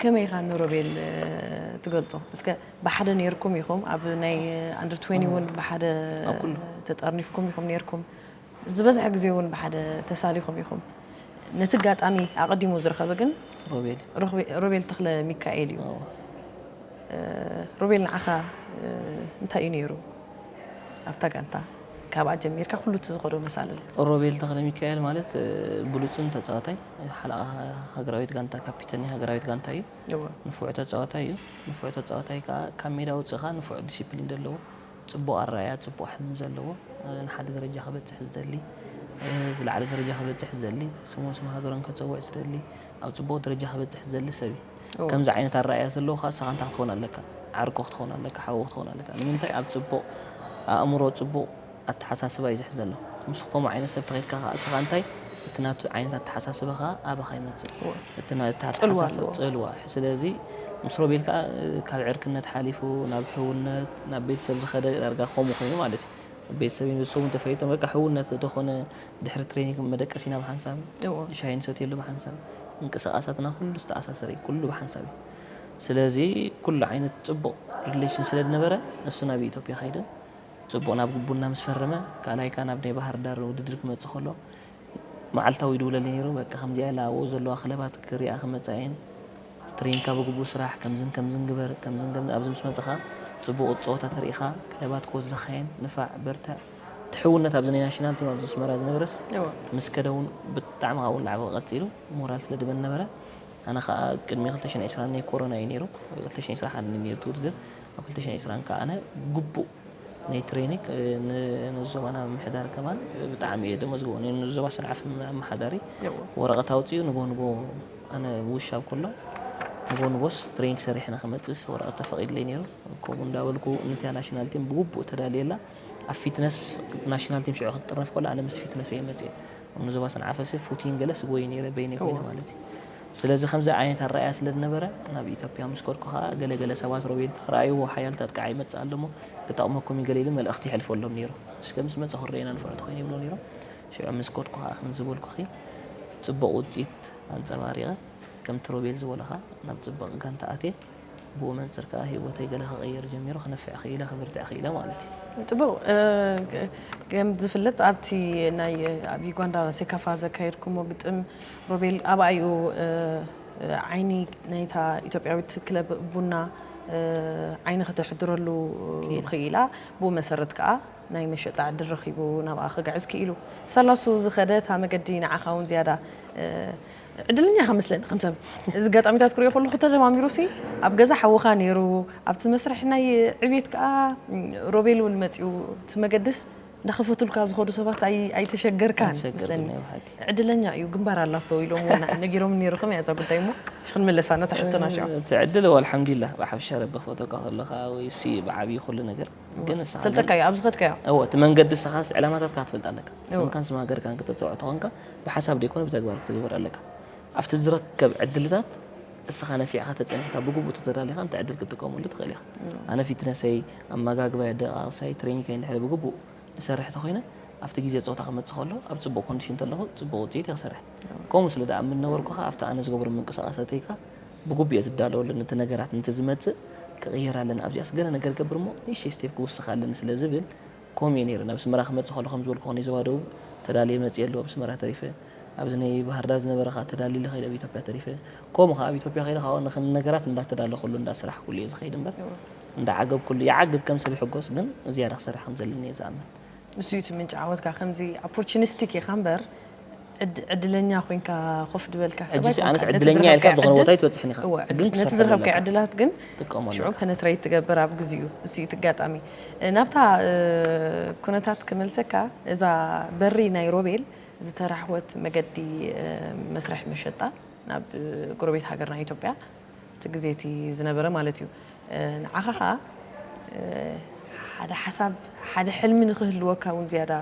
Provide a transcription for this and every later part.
ከመይ ኢኻ ንሮቤል ትገልጾ? እስከ ብሓደ ነይርኩም ኢኹም ኣብ ናይ ኣንደር 20 እውን ብሓደ ተጠርኒፍኩም ኢኹም ነይርኩም ዝበዝሐ ግዜ እውን ብሓደ ተሳሊኹም ኢኹም ነቲ ኣጋጣሚ ኣቐዲሙ ዝረኸበ ግን ሮቤል ተክለ ሚካኤል እዩ ሮቤል ንዓኻ እንታይ እዩ ነይሩ ኣብታ ጋንታ ካብኣ ጀሚርካ ኩሉ እቲ ዝኸዶ መሳልል። ሮቤል ተኽለሚካኤል ማለት ብሉጽን ተጻዋታይ ሓለቓ ሃገራዊት ጋንታ ካፒተን ናይ ሃገራዊት ጋንታ እዩ። እወ። ንፉዕ ተጻዋታይ እዩ። ንፉዕ ተጻዋታይ ከኣ ካብ ሜዳ ኣውጺእኻ ንፉዕ ዲሲፕሊን ዘለዎ፣ ጽቡቕ ኣረኣእያ፣ ጽቡቕ ሕልሚ ዘለዎ፣ ንሓደ ደረጃ ክበጽሕ ዝደሊ፣ ዝለዓለ ደረጃ ክበጽሕ ዝደሊ፣ ስሙን ስም ሃገሩን ከጸውዕ ዝደሊ፣ ኣብ ጽቡቕ ደረጃ ክበጽሕ ዝደሊ ሰብ እዩ። ከምዚ ዓይነት ኣረኣእያ ዘለዎ ከኣ ንስኻ እንታይ ክትኸውን ኣለካ? ዓርኩ ክትኸውን ኣለካ፣ ሓዉ ክትኸውን ኣለካ። ንምንታይ ኣብ ጽቡቕ ኣእምሮ ጽቡቕ ኣተሓሳስባ እዩ ዝሕዝ ዘሎ። ምስ ከምኡ ዓይነት ሰብ ተኸይድካ ከኣ ንስኻ እንታይ እቲ ናቱ ዓይነት ኣተሓሳስባ ከኣ ኣባኻ ይመጽእ። እቲ ናይ እቲ ጽልዋ ኣተሓሳስባ ኣለዎ። ጽልዋ ስለዚ ምስ ሮቤል ከኣ እ፣ ካብ ዕርክነት ሓሊፉ ናብ ሕውነት ናብ ቤተሰብ ዝኸደ ዳርጋ ከምኡ ኮይኑ ማለት እዩ። ቤተሰብ ይንሱ እንተፈሊጦም በቃ ሕውነት ዶ ኮነ ድሕሪ ትሬኒግ መደቀሲና ብሓንሳብ እዎ። ዩ፣ ሻሂ ንሰትየሉ ብሓንሳብ፣ ምንቅስቓሳትና ኩሉ ዝተኣሳሰረ ዩ፣ ኩሉ ብሓንሳብ ዩ። ስለዚ ኩሉ ዓይነት ጽቡቕ ሪሌሽን ስለ ዝነበረ ንሱ ናብ ኢትዮጵያ ከይደ፣ ጽቡቕ ናብ ቡና ምስ ፈረመ፣ ካልኣይ ከኣ ናብ ናይ ባህርዳር ውድድር ክመጽእ ከሎ መዓልታዊ ይድውለለይ ነይሩ፣ በቃ ከምዚኣ ኣላ ኣብኡ ዘለዋ ክለባት ክሪኣ ክመጻ እየን፣ ትሬኒግካ ብግቡእ ስራሕ፣ ከምዝን ከምዝን ግበር፣ ከምዝን ከምዝን ኣብዚ ምስ መጸኻ ጽቡቕ ጸወታ ተሪኢኻ ክለባት ክወስዛኻ እየን፣ ንፋዕ በርትዕ። እቲ ሕውነት ኣብዚ ናይ ናሽናል ቲም ኣብዚ ኣስመራ ዝነበረስ ምስ ከደ እውን ብጣዕሚ ካብኡ እናዓበ ቀፂሉ ሞራል ስለ ድበኒ ነበረ ኣነ ከዓ ቅድሚ 2020 ናይ ኮሮና እዩ ነይሩ 2021 እዩ ነይሩ እቲ ውድድር ኣብ 2020 ከዓ ኣነ ግቡእ ናይ ትሬኒክ ንዞባና ምሕዳር ከማን ብጣዕሚ እየ ደመዝግቦ ንዞባ ሰንዓፈ ኣመሓዳሪ ወረቐት ኣውፅኡ ንቦ ንቦ ኣነ ውሻብ ከሎ ንቦ ንቦስ ትሬኒክ ሰሪሕና ክመፅእስ ወረቐት ተፈቒድለይ ነይሩ ከምኡ እንዳበልኩ ንቲያ ናሽናል ቲም ብግቡእ ተዳልየላ ኣብ ፊትነስ ናሽናል ቲም ሽዑ ክትጥረፍ ከሎ ኣነ ምስ ፊትነስ እየ መፅየ ኣብ ንዞባ ሰንዓፈ ሰብ ፉቲን ገለ ስጎይ ነይረ በይነይ ኮይነ ማለት እዩ ስለዚ ከምዚ ዓይነት ኣረኣያ ስለ ዝነበረ ናብ ኢትዮጵያ ምስ ከድኩ ከዓ ገለገለ ሰባት ሮቤል ረኣይዎ ሓያል ታጥቃዓ ይመፅእ ኣሎ እሞ ክጠቕመኩም እዩ ገለ ኢሉ መልእኽቲ ይሕልፈሎም ነይሩ እስከ ምስ መፀ ክረኤና ንፍዑት ኮይነ ይብሎ ነይሮም ሽዑ ምስ ከድኩ ከዓ ከም ዝበልኩኺ ፅቡቕ ውፅኢት ኣንፀባሪቐ ከምቲ ሮቤል ዝበለኻ ናብ ፅብቕ ጋንታ ኣትየ ብኡ መንጽር ከኣ ሂወተይ ገለ ክቅይር ጀሚሩ ክነፍዕ ክኢለ ክብርትዕ ክኢለ ማለት እዩ። ጽቡቅ ከም ዝፍለጥ ኣብቲ ናይ ኣብ ዩጋንዳ ሴካፋ ዘካየድኩሞ ግጥም ሮቤል ኣብኣ እዩ ዓይኒ ናይታ ኢትዮጵያዊት ክለብ ቡና ዓይኒ ከተሕድረሉ ክኢላ ብኡ መሰረት ከኣ ናይ መሸጣ ዕድል ረኺቡ ናብኣ ክግዕዝ ክኢሉ። ሰላሱ ዝኸደ እታ መገዲ ንዓኻ እውን ዝያዳ ዕድልኛ ኢኻ መስለኒ ከም ሰብ እዚ ኣጋጣሚታት ክሪኦ ከለኹ ተደማሚሩሲ ኣብ ገዛ ሓውኻ ነይሩ ኣብቲ መስርሕ ናይ ዕብየት ከኣ ሮቤል እውን መጺኡ እቲ መገድስ እንዳኸፈቱልካ ዝኸዱ ሰባት ኣይተሸገርካን መስለኒ ዕድለኛ እዩ ግንባር ኣላቶ ኢሎም እውን ነጊሮም ነይሩ ከመይ እዛ ጉዳይ እሞ ክንምለሳ ነታ ሕቶና ሽዑ እቲ ዕድል ወልሓምዱሊላህ ብሓፈሻ ረቢ ክፈቶካ ከለኻ ወይሲ ብዓብዪ ኩሉ ነገር ግን ንስኻ ግን- ሰልጠካዮ ኣብ ዝኸድካዮ እወ እቲ መንገዲ ንስኻስ ዕላማታትካ ክትፈልጥ ኣለካ እወ። ስምካን ስም ሃገርካን ክተፅውዖ ተኾንካ ብሓሳብ ዘይኮነ ብተግባር ክትግበር ኣለካ ኣብቲ ዝረከብ ዕድልታት እስኻ ነፊዕኻ ተፀኒሕካ ብግቡእ ተተዳሊኻ ነቲ ዕድል ክትጥቀመሉ ትኽእል ኢኻ ኣነ ፊትነሰይ ኣመጋግባይ ኣደቃቕሳይ ትሬኒከይ እንድሕሪ ብግቡእ ዝሰርሕ ተኾይነ ኣብቲ ግዜ ፆታ ክመፅእ ከሎ ኣብ ፅቡቕ ኮንዲሽን ተለኹ ፅቡቕ ውፅኢት እየ ክሰርሕ ከምኡ ስለ ድኣምን ነበርኩ ኸዓ ኣብቲ ኣነ ዝገብሮ ምንቅስቓሳተይ ከ ብጉብየ ዝዳሎ ኣለኒ እቲ ነገራት ንቲ ዝመጽእ ክቅየር ኣለኒ ኣብዚኣስ ገለ ነገር ገብር እሞ ንእሽተይ ስቴፕ ክውስክ ኣለኒ ስለ ዝብል ኮም እየ ነይረ ናብ ኣስመራ ክመጽእ ከለኩ ከም ዝበልኩካ ናይ ዞባ ደቡብ ተዳልየ መጽየ ኣለኩ ኣብ ኣስመራ ተሪፈ ኣብዚ ናይ ባህርዳር ዝነበረ ከኣ ተዳሊለ ከይደ ኣብ ኢትዮጵያ ተሪፈ ኮም ከኣ ኣብ ኢትዮጵያ ከይደ ከኣ ንክን ነገራት እንዳ ተዳለኩሉ እንዳ ስራሕኩሉ እየ ዝከይድ እምበር እንዳ ዓገብኩሉ ይዓግብ ከም ሰብ ይሕጎስ ግን ዝያዳ ክሰርሕ ከም ዘለኒ እየ ዝኣምን ንሱ እዩ እቲ ምንጪ ዓወትካ ከምዚ ኣፖርቹኒስቲክ ኢካ እምበር ዕድለኛ ኮንካ ኮፍ ድበልካ ሰብ ኣይኮንካን። ኣነስ ዕድለኛ ኢልካ ዝኾነ ቦታ ኣይትበፅሕን ኢኻ ግን ነቲ ዝረኸብካዮ ዕድላት ግን ሽዑ ፐነትረይት ትገብር ኣብ ግዚኡ እሱ እቲ ኣጋጣሚ ናብታ ኩነታት ክመልሰካ እዛ በሪ ናይ ሮቤል ዝተራሕወት መገዲ መስርሒ መሸጣ ናብ ጎረቤት ሃገርና ኢትዮጵያ እቲ ግዜ እቲ ዝነበረ ማለት እዩ ንዓኻ ከኣ ሓደ ሓሳብ ሓደ ሕልሚ ንክህልወካ እውን ዝያዳ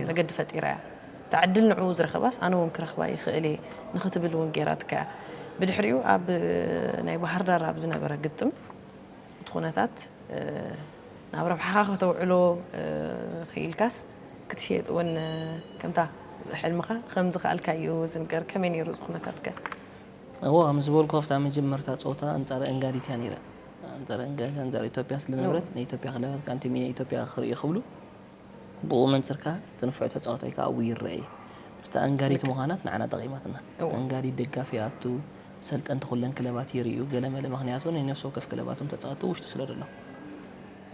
መገዲ ፈጢራ እያ እታ ዕድል ንዕኡ ዝረኸባስ ኣነ እውን ክረኽባ ይኽእል እየ ንክትብል እውን ገይራትካ እያ ብድሕሪኡ ኣብ ናይ ባህር ዳር ኣብ ዝነበረ ግጥም እቲ ኩነታት ናብ ረብሓኻ ከተውዕሎ ክኢልካስ ክትሸየጥ እውን ከምታ ሕልምኻ ከም ዝኸኣልካ እዩ ዝንገር ከመይ ነይሩ እዚ ኩነታትከ እወ ከም ዝበልኩ ኣብታ መጀመርታ ጸወታ ኣንጻር እንጋሪት እያ ነይረ። ኣንጻር እንጋሪት ኣንጻር ኢትዮጵያ ስለነበረት ንኢትዮጵያ ክለባት ከኣ ቲም ኢትዮጵያ ክርእዩ ክብሉ ብኡ መንጽር ከኣ እቲ ንፉዕ ተጻዋታይ ከኣ ኣብኡ ይረኣ እዩ። ምስታ እንጋሪት ምዃናት ንዓና ጠቒማትና። እንጋሪት ደጋፊ ይኣቱ፣ ሰልጠንቲ ኩለን ክለባት ይርእዩ ገለመለ ምኽንያቱ ናይ ነፍሲ ወከፍ ክለባቶም ተጻወቲ ውሽጢ ስለደሎ።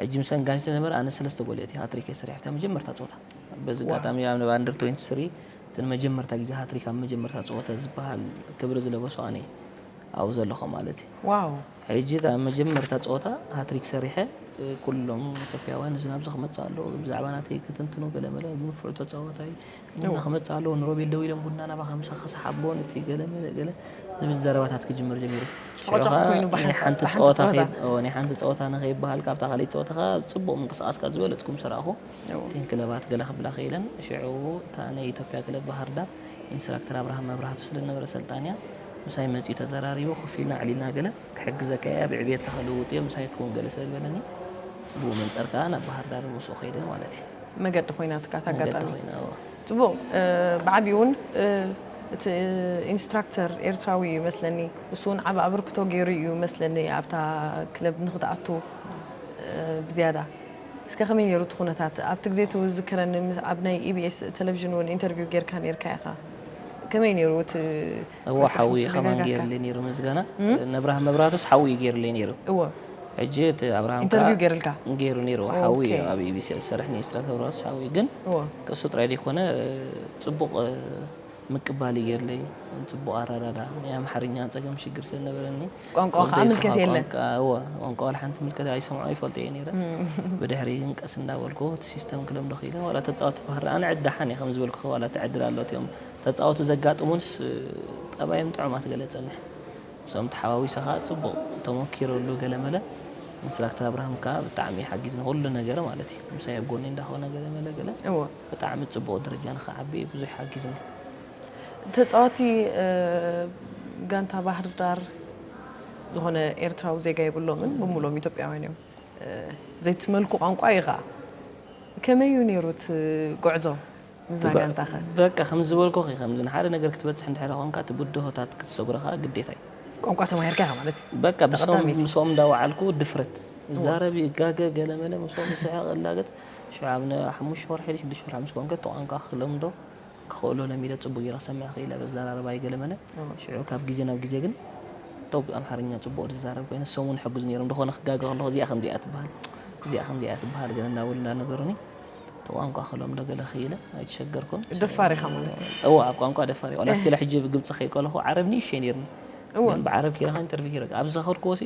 ሕጂ ምስ እንጋሪት ስለነበረ ኣነ ሰለስተ ጎል የእትየ ሃትሪክ እየ ሰሪሐ ኣብታ መጀመርታ ጸወታ። በዚ ኣጋጣሚ ኣብ ኣንደር ትዌንቲ ስሪ እቲ ንመጀመርታ ግዜ ሃትሪክ ኣብ መጀመርታ ጸወተ ዝበሃል ክብሪ ዝለበሶ ኣነ እየ ኣብኡ ዘለኹ ማለት እዩ። ዋው! ሕጂ እታ መጀመርታ ጸወታ ሃትሪክ ሰሪሐ ኩሎም ኢትዮጵያውያን እዚ ናብዚ ክመጽእ ኣለዎ ብዛዕባ ናተይ ክትንትኑ ገለመለ ንፉዕ ተጻዋታይ ቡና ክመጽእ ኣለዎ ንሮቤል ደው ኢሎም ቡና ናባኻ ምሳኻ ሰሓቦ ነቲ ገለመለ ገለ ዝብል ዘረባታት ክጅምር ጀሚሩ ሽዑ ጨቕጫቕ ኮይኑ ኸኣ ናይ ብሓንሳእ- ሓንቲ ብሓንቲ ጸወታ ጸወታ። ከይ- እዎ፣ ናይ ሓንቲ ጸወታ ንኸይበሃል ካብታ ካልኣይቲ ጸወታ ከኣ ጽቡቕ ምንቅስቓስካ ዝበለጽኩም ስራኹ እተን ክለባት ገለ ክብላ ክኢለን። ሽዑ እታ ናይ ኢትዮጵያ ክለብ ባህርዳር ኢንስትራክተር ኣብርሃም መብራህቱ ስለ ዝነበረ ኣሰልጣኒኣ ምሳይ መጺኡ ተዘራሪቡ ኮፍ ኢልና ኣዕሊልና ገለ ክሕግዘካ'የ ኣብ ዕብየትካ ክልውጥ'የ ምሳይ ክውን ገለ ስለ ዝበለኒ ብኡ መንጸር ከኣ ናብ ባህርዳር ምስኡ ከይደ ማለት'ዩ። መገዲ ኮይናትካ እታ ኣጋጣሚ። መገዲ ኮይና እወ። ጽቡቕ ብዓቢኡ ውን እቲ ኢንስትራክተር ኤርትራዊ እዩ መስለኒ ንሱ ውን ዓቢ ኣበርክቶ ጌሩ እዩ መስለኒ ኣብታ ክለብ ንኽትኣቱ ብዝያዳ። እስከ ከመይ ኔሩ እቲ ኩነታት ኣብቲ ግዜ እቲ ዝዝከረኒ ኣብ ናይ EBS ተለቪዥን ውን ኢንተርቪው ጌርካ ኔርካ ኢኻ ከመይ ኔሩ እቲ እወ መስርሕ ሓውየ ምስ ከማን ተጋጋካ? ጌርለይ ኔሩ ምስጋና ነብርሃም መብራህቱስ ሓውዩ እዩ ጌርለይ ኔሩ እወ ሕጂ እቲ ኣብርሃም ከኣ ኢንተርቪው ጌርልካ? ጌሩ ኔሩ እወ ሓውዩ ኦኬ እዩ ኣብ EBCS ዝሰርሕ ኔሩ ኢንስትራክተር መብራህቱስ ሓውዩ ግን እወ ክሱ ጥራይ ደይኮነ ጽቡቅ ምቅባል የለይ ጽቡቅ ኣራዳዳ ናይ ኣምሓርኛ ጸገም ሽግር ስለ ነበረኒ ቋንቋ ከኣ ምልከት የለን ቋንቋ ዋላ ሓንቲ ምልከት ኣይሰምዖ ኣይፈልጦ እየ ነይረ ብድሕሪ ግን ቀስ እንዳበልኩ እቲ ሲስተም ክለምዶ ክኢለ ዋላ ተጻወቲ ክባህር ኣነ ዕዳሓን እየ ከም ዝበልኩ ዋላ ተዕድል ኣሎት እዮም ተጻወቲ ዘጋጥሙንስ ጠባዮም ጥዑም ኣትገለጸኒ ምስኦም ተሓዋዊሰ ከኣ ጽቡቕ ተመኪሮ ኣሎ ገለመለ ኢንስትራክተር ኣብርሃም ከኣ ብጣዕሚ ሓጊዝኒ ኩሉ ነገረ ማለት እዩ ምሳይ ኣብ ጎኒ እንዳኾነ ገለመለ ገለ ብጣዕሚ ጽቡቕ ደረጃ ንኽዓቢ እዩ ብዙሕ ሓጊዝና። ተጻዋቲ ጋንታ ባህርዳር ዝኾነ ኤርትራዊ ዜጋ የብሎምን ብምሉኦም ኢትዮጵያውያን እዮም። ዘይትመልኩ ቋንቋ እዩ ኸኣ። ከመይ እዩ ነይሩ እቲ ጉዕዞ ምስዛ ጋንታኸ? በቃ ከም ዝበልኩኺ እዩ ከምዚ ንሓደ ነገር ክትበጽሕ እንድሕሪ ኮንካ እቲ ብድሆታት ክትሰግሮ ኸኣ ግዴታ እዩ። ቋንቋ ተማሂርካ ኢኻ ማለት እዩ። በቃ ምስኦም ምስኦም እንዳወዓልኩ ድፍረት እዛረብ ይጋገ ገለመለ ምስኦም ይስሕቕ እላገጽ ሽዑ ን ሓሙሽተ ወርሒ ድዩ ሽዱሽተ ወርሒ ምስ ኮንከ እቲ ቋንቋ ክለምዶ ክኽእሎ ለሚደ ጽቡቕ ጌረ ክሰምዕ ክኽእል እየ በዘራርባይ ገለ መለ ሽዑ ካብ ግዜ ናብ ግዜ ግን ቶብ ኣምሓርኛ ጽቡቕ ዝዛረብ ኮይነ እሶም ውን ይሕግዙ ኔሮም እንዶ ኾነ ክጋገ ከለኹ እዚኣ ከምዚኣ ትበሃል እዚኣ ከምዚኣ እያ ትበሃል ገለ እንዳበሉ እንዳነገሩኒ እቲ ቋንቋ ክለምዶ ገለ ክኢለ ኣይተሸገርኩን ደፋር ኢኻ ማለት እዩ እወ ኣብ ቋንቋ ደፋር እየ ዋላ ስቲል ሕጂ ብግብጺ ከይከለኹ ዓረብ ንእሽተይ ኔርኒ ግን ብዓረብ ኪረ ከ ኢንተርቪው ኪረ ኣብዚ ዝኸድክዎ ሲ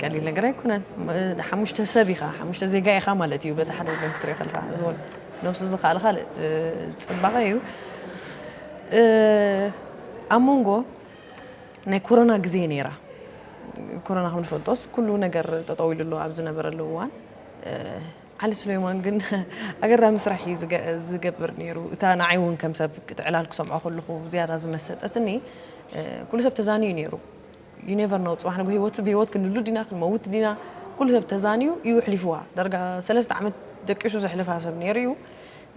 ቀሊል ነገር ኣይኮነን ሓሙሽተ ሰብ ኢኻ ሓሙሽተ ዜጋ ኢኻ ማለት እዩ በቲ ሓደ ወገን ክትሪኦ ከለካ እዚ እውን ነብሱ ዝኸኣል ካልእ ፅባቐ እዩ ኣብ መንጎ ናይ ኮሮና ግዜ ነይራ ኮሮና ከም ንፈልጦስ ኩሉ ነገር ጠጠው ኢሉ ኣሎ ኣብ ዝነበረሉ እዋን ዓሊ ስለይማን ግን ኣገራ ምስራሕ እዩ ዝገብር ነይሩ እታ ንዓይ እውን ከም ሰብ ዕላል ክሰምዖ ከለኹ ዝያዳ ዝመሰጠትኒ ኩሉ ሰብ ተዛንዩ ነይሩ you never know ጽባሕ ንግሆ ህይወት ብህይወት ክንህሉ ዲና ክንመውት ዲና ኩሉ ሰብ ተዛንዩ እዩ ኣሕሊፍዋ ዳርጋ ሰለስተ ዓመት ደቂሱ ዘሕልፋ ሰብ ነይሩ እዩ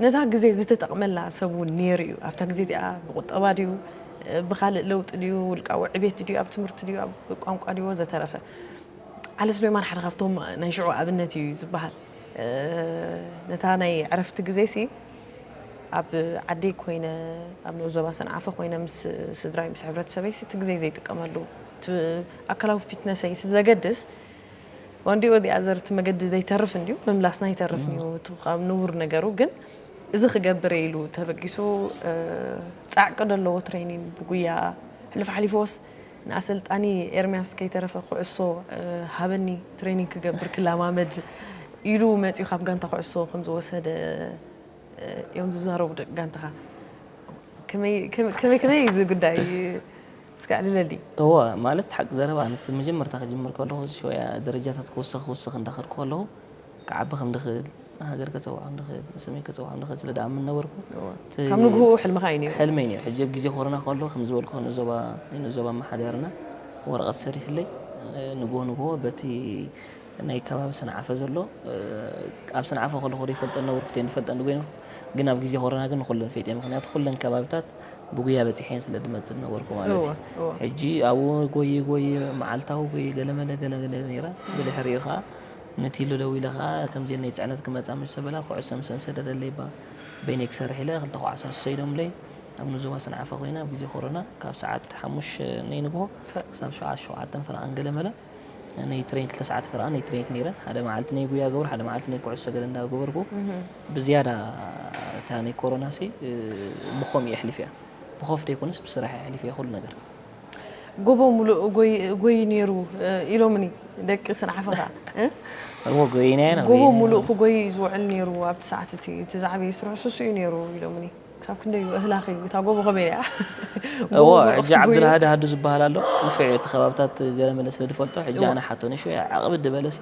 ነዛ ግዜ ዝተጠቕመላ ሰብ እውን ነይሩ እዩ ኣብታ ግዜ እዚኣ ብቁጠባ ድዩ ብካልእ ለውጢ ድዩ ውልቃዊ ዕቤት ድዩ ኣብ ትምህርቲ ድዩ ኣብ ቋንቋ ድዩ ወዘተረፈ ዓሊ ስሌማን ሓደ ካብቶም ናይ ሽዑ ኣብነት እዩ ዝበሃል ነታ ናይ ዕረፍቲ ግዜ ሲ ኣብ ዓደይ ኮይነ ኣብ ንኡስ ዞባ ሰንዓፈ ኮይነ ምስ ስድራይ ምስ ሕብረተሰበይሲ እቲ ግዜይ ዘይጥቀመሉ እቲ ኣካላዊ ፊትነሰይሲ ዘገድስ ዋንዲ ኦዲ ኣዘር እቲ መገዲ ዘይተርፍ እንድዩ ምምላስና ይተርፍ እዩ እቲ ካብ ንቡር ነገሩ ግን እዚ ክገብር ኢሉ ተበጊሱ ጻዕቂ ደለዎ ትሬኒን ብጉያ ሕሉፍ ሓሊፍዎስ ንኣሰልጣኒ ኤርምያስ ከይተረፈ ኩዕሶ ሃበኒ ትሬኒንግ ክገብር ክለማመድ ኢሉ መጺኡ ካብ ጋንታ ኩዕሶ ከም ዝወሰደ እዮም ዝዛረቡ ደቂ ጋንታኻ ከመይ ከመይ እዚ ጉዳይ እስከ ኣዕልለሊ እወ ማለት ሓቂ ዘረባ መጀመርታ ክጅምር ከለኹ ሸወያ ደረጃታት ክውስኽ ክውስኽ እንዳኸድኩ ከለኹ ክዓቢ ከም ድኽእል፣ ንሃገር ከጸውዕ ከም ድኽእል፣ ንስመይ ከጸውዕ ከም ድኽእል ስለ ድኣምን ነበርኩ። እቲ ካብ ንግህኡ ሕልምኻ እዩ ነይሩ? ሕልመይ ነይሩ። ሕጂ ኣብ ግዜ ኮሮና ከሎ ከም ዝበልክዎ ንዞባ ንዞባ ኣመሓዳርና ወረቐት ሰሪሕለይ ንግሆ ንግሆ በቲ ናይ ከባቢ ሰንዓፈ ዘሎ ኣብ ሰንዓፈ ከለኹ ዶ ይፈልጠን ነበርኩ ተይ ንፈልጠን ኮይነ ግን ኣብ ግዜ ኮሮና ግን ንኹለን ፈይጠ ምክንያቱ ኩለን ከባቢታት ብጉያ በጺሐን ስለ ድመጽእ ዝነበርኩ ማለት እወ፣ እዩ እወ። ሕጂ ኣብኡ ጎየ ጎየ መዓልታዊ ጎየ ገለመለ ገለመለ ነይረ ብድሕሪኡ ከኣ ንቲሉ ደዊለ ከኣ ከምዜነይ ጽዕነት ክመጻ ምስ ተበላ ኩዕሶ ምሰን ሰደደለይ'ባ በይነይ ክሰርሕ ኢለ ክልተ ኳዕሳ ሰይዶምለይ ኣብ ንዞባ ሰንዓፈ ኮይነ ኣብ ግዜ ኮሮና ካብ ሰዓት ሓሙሽተ ነይ ንግሆ ክሳብ ሰዓት ሸውዓተን ፈረቓን ገለ መለ ነይ ትሬን ክልተ ሰዓት ፈረቓ ነይ ትሬንክ ነይረ ሓደ መዓልቲ ነይ ጉያ ገብር ሓደ መዓልቲ ነይ ኩዕሶ ገለ እንዳ ገበርኩ ብዝያዳ እታ ነይ ኮሮናሲ ብኮምኡ የሕሊፈያ ብኮፍ ደይኮነስ ብስራሕ የሕሊፈያ ኩሉ ነገር ጎቦ ሙሉእ ጎይ ነይሩ ኢሎምኒ ደቂ ስንዓፈ ከኣ እሞ ጎይና ኢና ጎቦ ሙሉእ ክጎይ እዩ ዝውዕል ነይሩ ኣብቲ ሰዓት እቲ እቲ ዝዓበየ ስርሑ ስሱ እዩ ነይሩ ኢሎምኒ ክሳብ ክንደይ እዩ እህላኺ እታ ጎቦ ከመይ እያ እዎ ሕጂ ዓብዱልሃዲ ሃዱ ዝበሃል ኣሎ ንፍዕ እቲ ከባብታት ገለመለ ስለ ዝፈልጦ ሕጂ ኣነ ሓቶ ንሹ ዓቕብድ በለሲ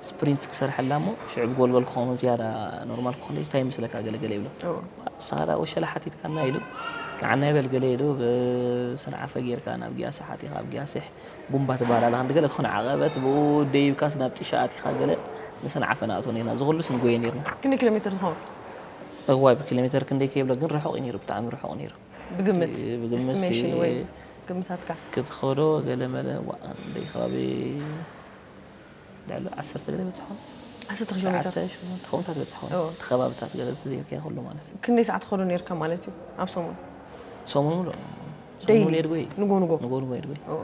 ስፕሪንት ክሰርሐላ እሞ ሽዑ ብጎልጎል ክኾኑ ዝያዳ ኖርማል ክኾኑ እንታይ ይመስለካ ገለ ገለ ይብሎ ሳራ ወሸላ ሓቲትካና ኢሉ ንዓና ይበል ገለ ኢሉ ብስንዓፈ ጌርካ ናብ ግያሰ ሓቲኻ ኣብ ግያሴሕ ቡምባ ትበሃል ኣላ ክንዲ ገለ ዝኾነ ዓቐበት ብኡ ደይብካስ ናብ ጢሻ ኣቲኻ ገለ ንሰንዓፈ ንኣቶ ነርና እዚ ኩሉስ ንጎየ ነርና ክንደይ ኪሎ ሜትር ዝኸውን እዋይ ብኪሎ ሜትር ክንደይ ከይብሎ ግን ርሑቕ እዩ ነይሩ ብጣዕሚ ርሑቕ ነይሩ ብግምት ኤስቲሜሽን ወይ ግምታትካ ክትኸዶ ገለ መለ ዋእ ከባቢ ልዕሊ ዓሰርተ ገለ በጽሖም ዓሰርተ ኪሎ ሜተር ትሽዓተ ሽሞንተ ከምኡታት በጽሖም እዎ። እቲ ከባብታት ገለ እዚ ዘይርካዮ ኩሉ ማለት እዩ ክንደይ ሰዓት ትኸዶ ነርካ ማለት እዩ ኣብ ሰሙን ሰሙን ሙሉእ ሰሙን ደይሊ ሙሉእ የድጎይ እዩ ንጎ ንጎ ንጎ ንጎ የድጎይ እዎ።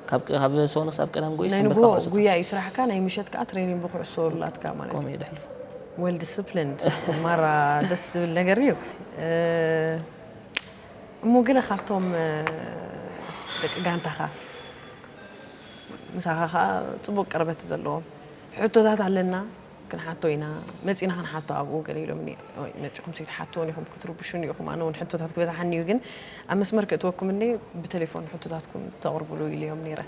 ካብ ቅ- ካብ ሰሙን ክሳብ ቀዳም ጎይ ናይ ሰንበት ንጎ ካብ ዓሰርተ ጉያ እዩ ስራሕካ ናይ ምሸት ከዓ ትሬኒንግ ብኩዕሶ ኣላትካ ማለት እዩ ከምኡ እዩ ደሕልፎ ዌል ዲስፕሊንድ ማራ ደስ ዝብል ነገር እዩ እ፣ እሞ ገለ ካብቶም እ፣ ደቂ ጋንታኻ ምሳኻ ከኣ ጽቡቅ ቅርበት ዘለዎም ሕቶታት ኣለና ክንሓቶ ኢና መጺና ክንሓቶ ኣብኡ ገለ ኢሎምኒ ኦይ መጺኹም ሰይትሓትዎን ኢኹም ክትርብሹኒ ኢኹም ኣነ ውን ሕቶታት ክበዝሓኒ እዩ ግን ኣብ መስመር ክእትወኩም እንዴ ብተሌፎን ሕቶታትኩም ተቕርብሉ ኢለዮም ነይረ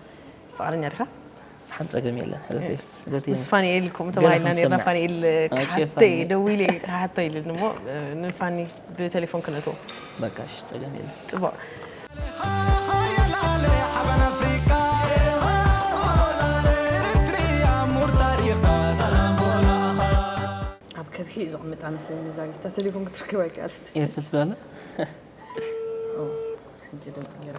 ፍቓደኛ ድኻ ሓንቲ ጸገም የለን ሕልፍ እዩ ዘትየ ምስ ፋኒኤል ኢልኩም ገለ ተባሂልና ኔርና ክንሰምዕ። ፋኒኤል ኦኬ፣ ክሓተይ ፋኒኤል። ደዊ ኢለ ክሓቶ ኢልኒ እሞ ንፋኒ ብቴሌፎን ክነትዎ በቃ እሺ፣ ጸገም የለን። ጽቡቕ ኣብ ከብሒ እዩ ዘቕምጣ መስለኒ እዛ ጊታ ቴሌፎን ክትርከብ ኣይከኣለት ኤርትል ትብላለ ሕጂ ድምፂ ገይራ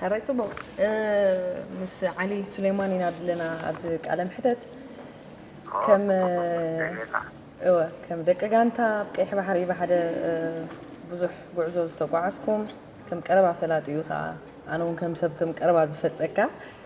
ሕራይ ጽቡቅ ምስ ዓሊ ሱሌማን ኢና ድለና ኣብ ቃለ ምሕተት ከም እወ ከም ደቂ ጋንታ ኣብ ቀይሕ ባሕሪ ብሓደ ብዙሕ ጉዕዞ ዝተጓዓዝኩም ከም ቀረባ ፈላጢኡ ከኣ ኣነ ውን ከም ሰብ ከም ቀረባ ዝፈልጠካ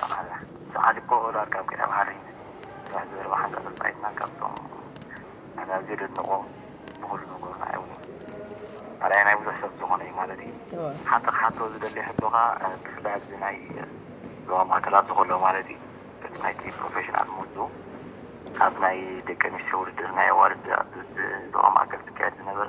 ጠቓላ ሰዓሊ ፖኦል ኣርካብ ኪዳን ሃሪ ስራሕ ዘረባ ሓንቲ ኣሰልጣኒትና ካብቶም ኣነ ኣዝየ ዘድንቖ ብኹሉ ነገሩ ንዓይ ውን ኣርኣያ ናይ ብዙሕ ሰብ ዝኾነ እዩ ማለት እዩ ሓንቲ ክሓቶ ዝደሊ ሕቶ ከኣ ብፍላይ ኣብዚ ናይ ዞባ ማእከል ኣብዚ ከሎ ማለት እዩ በቲ ናይቲ ፕሮፈሽናል ምህዞ ኣብ ናይ ደቂ ኣንስትዮ ውድድር ናይ ኣዋልድ ኣብ ዞባ ማእከል ዝካየድ ዝነበረ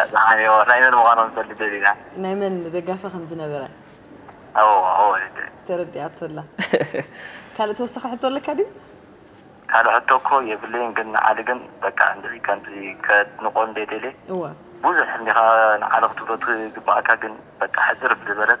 ኣጽናሓዮ ናይ መን ምዃኖም ክፈልጥ ደሊና። ናይ መን ደጋፊ ከም ዝነበረ። ኣዎ ኣዎ ልደ። ተረዲኣቶ ኣላ። ካልእ ተወሳኺ ሕቶ ኣለካ ድዩ? ካልእ ሕቶ እኮ የብለይን ግን ንዓሊ ግን በቃ እንደዚ ከምዚ ከድንቆ እንዴ ደልየ እወ። ብዙሕ እንዲኻ ንዓሊ ክትብሎ ትግብኣካ ግን በቃ ሕጽር ብዝበለት።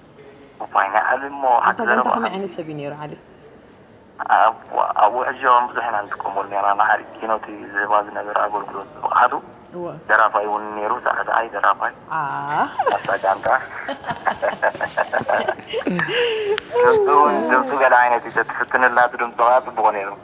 ኣታ ጋንታ ከመይ ዓይነት ሰብ እዩ ነይሩ ዓሊ? እዋእ።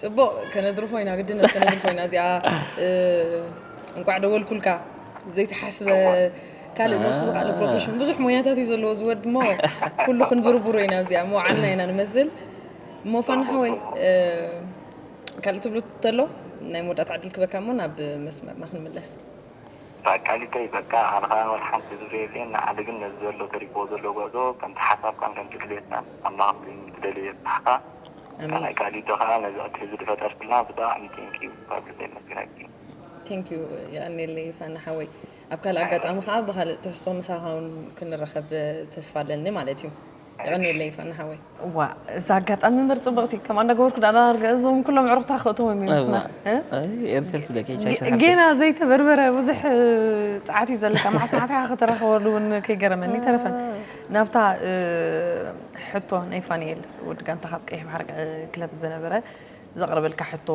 ጽቡቅ ከነድርፎ ኢና ግድነት ከነድርፎ ኢና እዚኣ እንቋዕ ደወልኩልካ ዘይተሓስበ ካልእ ነብሱ ዝኸኣለ ፕሮፌሽን ብዙሕ ሞያታት እዩ ዘለዎ ዝወድ እሞ ኩሉ ክንብርብሮ ኢና ኣብዚኣ መውዓልና ኢና ንመስል እሞ ፋና ሓወይ ካልእ ትብሉ ተሎ ናይ መወዳእታ ዕድል ክበካ እሞ ናብ መስመርና ክንምለስ ተቃሊተይ በቃ ኣነ ከዓ ወላ ሓንቲ ዝብሎ የብለይን ንዓሊ ግን ነዚ ዘሎ ተሪፍዎ ዘሎ ጉዕዞ ከምቲ ሓሳብካን ከምቲ ድሌትካን ኣምላኽ ኣብቲ ትደልዮ የብጽሓካ። ሰናይ ቃል ዩ ከኣ ነዚ ዕድል እዚ ድፈጠርክልና ብጣዕሚ ቴንክ ዩ ካብ ልበይ የመስግነኪ። Thank you የቀንየለይ ፋና ሓወይ ኣብ ካልእ ኣጋጣሚ ከኣ ብካልእ ትሕዝቶ ምሳካ ውን ክንራከብ ተስፋ ኣለኒ ማለት እዩ የቀንየለይ ፋና ሓወይ። እዋእ እዛ ኣጋጣሚ እምበር ጽብቅቲ ከምኣ እንዳገበርኩ ደኣ ዳርጋ እዞም ኩሎም ኣዕሩክታ ክእትዎም እዮም ምስ እዋእ መ ኣይ ኤርትል ክብለኪ ቻይ ጌ- ስራሕቲ ጌና ዘይተበርበረ ብዙሕ ጸዓት እዩ ዘለካ መዓስ መዓስ ኢኻ ከተራኽበሉ እውን ከይገረመኒ ተረፈን ናብታ ሕቶ ናይ ፋንኤል ወዲ ጋንታ ካብ ቀይሕ ባሕሪ ክለብ ዝነበረ ዘቕረበልካ ሕቶ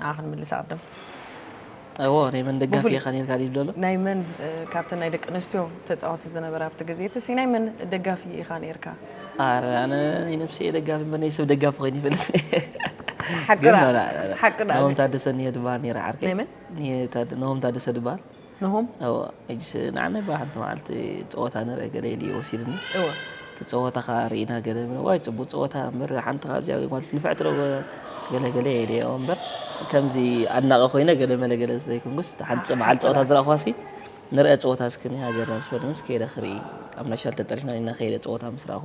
ንዓ ክንምልስ ኣቕድም እዎ ናይ መን ደጋፊ ኢኻ ነርካ ይብሎ ኣሎ ናይ መን ካብተን ናይ ደቂ ኣንስትዮ ተፃወቲ ዝነበረ ኣብቲ ግዜ እቲ ሲ ናይ መን ደጋፊ ኢኻ ነርካ ኣረ ኣነ ናይ ነብሰ ደጋፊ እምበር ናይ ሰብ ደጋፊ ኮይነ ይፈልጥ ሓቂ ግን ዳ- ላ- ላ- ላ- ሓቂ ዳ- ናሆም ታደሰ እኒሄ ድበሃል ነይረ ዓርከይ ናይ መን? እኒሄ ታደ- ናሆም ታደሰ ድበሃል ነሆም እወ ሕጂስ ንዓና እባ ሓንቲ መዓልቲ ጸወታ ንርእ ገለ ኢሉ እዩ ወሲዱኒ እወ እቲ ጸወታ ከኣ ርኢና ገለ ንብል ዋይ ጽቡቅ ጸወታ እምበር ሓንቲ ካብዚኣ ጓልስ ንፍዕቲ ዶ ገለ ገለ እየ ኢለዮ እምበር ከምዚ ኣድናቂ ኮይነ ገለ መለ ገለ ዘይኮንኩስ እታ ሓንቲ መዓልቲ ጸወታ ዝረኣኽዋሲ ንርኣ ጸወታ እስኪ ናይ ሃገርና ምስ በለንስ ከይደ ክርኢ ኣብ ናሽናል ተጠሪፍና ኢና ከይደ ጸወታ ምስ ረኣኹ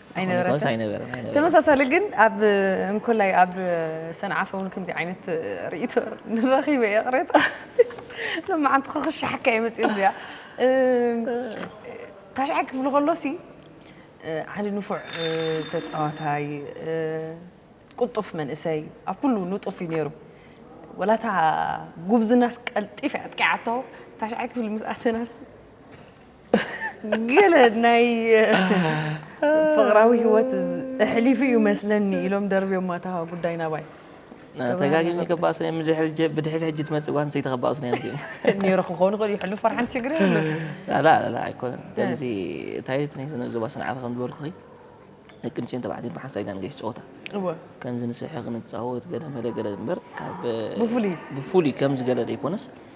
ኣይነበረን ኣይነበረን። ተመሳሳሊ ግን ኣብ እንኮላይ ኣብ ሰንዓፈ እውን ከምዚ ዓይነት ርእይቶ ንረኺበ እየ ቅሬታ ሎማዓንቲ ክኽሻሓካ እየ መፅኡ እዚኣ ታሽዓይ ክፍሊ ከሎሲ ዓሊ ንፉዕ ተፃዋታይ ቁጡፍ መንእሰይ ኣብ ኩሉ ንጡፍ እዩ ነይሩ ወላታ ጉብዝናስ ቀልጢፍ ኣጥቂዓቶ ታሽዓይ ክፍሊ ምስ ኣተናስ ገለ ናይ ፍቕራዊ ህይወት ኣሕሊፉ እዩ መስለኒ ኢሎም ደርብዮማ እታ ጉዳይ ናባይ ተጋጊም ይገባእ ስነ ብድሕሪ ሕጂ ትመፅእ ጓል ኣንስተይቲ ከባእ ስነ እዮም ነይሩ ክኾኑ ክእል ይሕሉ ፈርሓን ሽግር ላላ ኣይኮነን እዚ እንታይ ናይ ስነ ዞባ ስንዓፈ ከም ዝበልኩኺ ደቂ ኣንስትዮን ተባዕትዮን ብሓንሳእ ኢና ንገሽ ፀወታ ከምዚ ንስሕቕ ንፃወት ገለ መለ ገለ እምበር ካብ ብፍሉይ ከምዚ ገለ ዘይኮነስ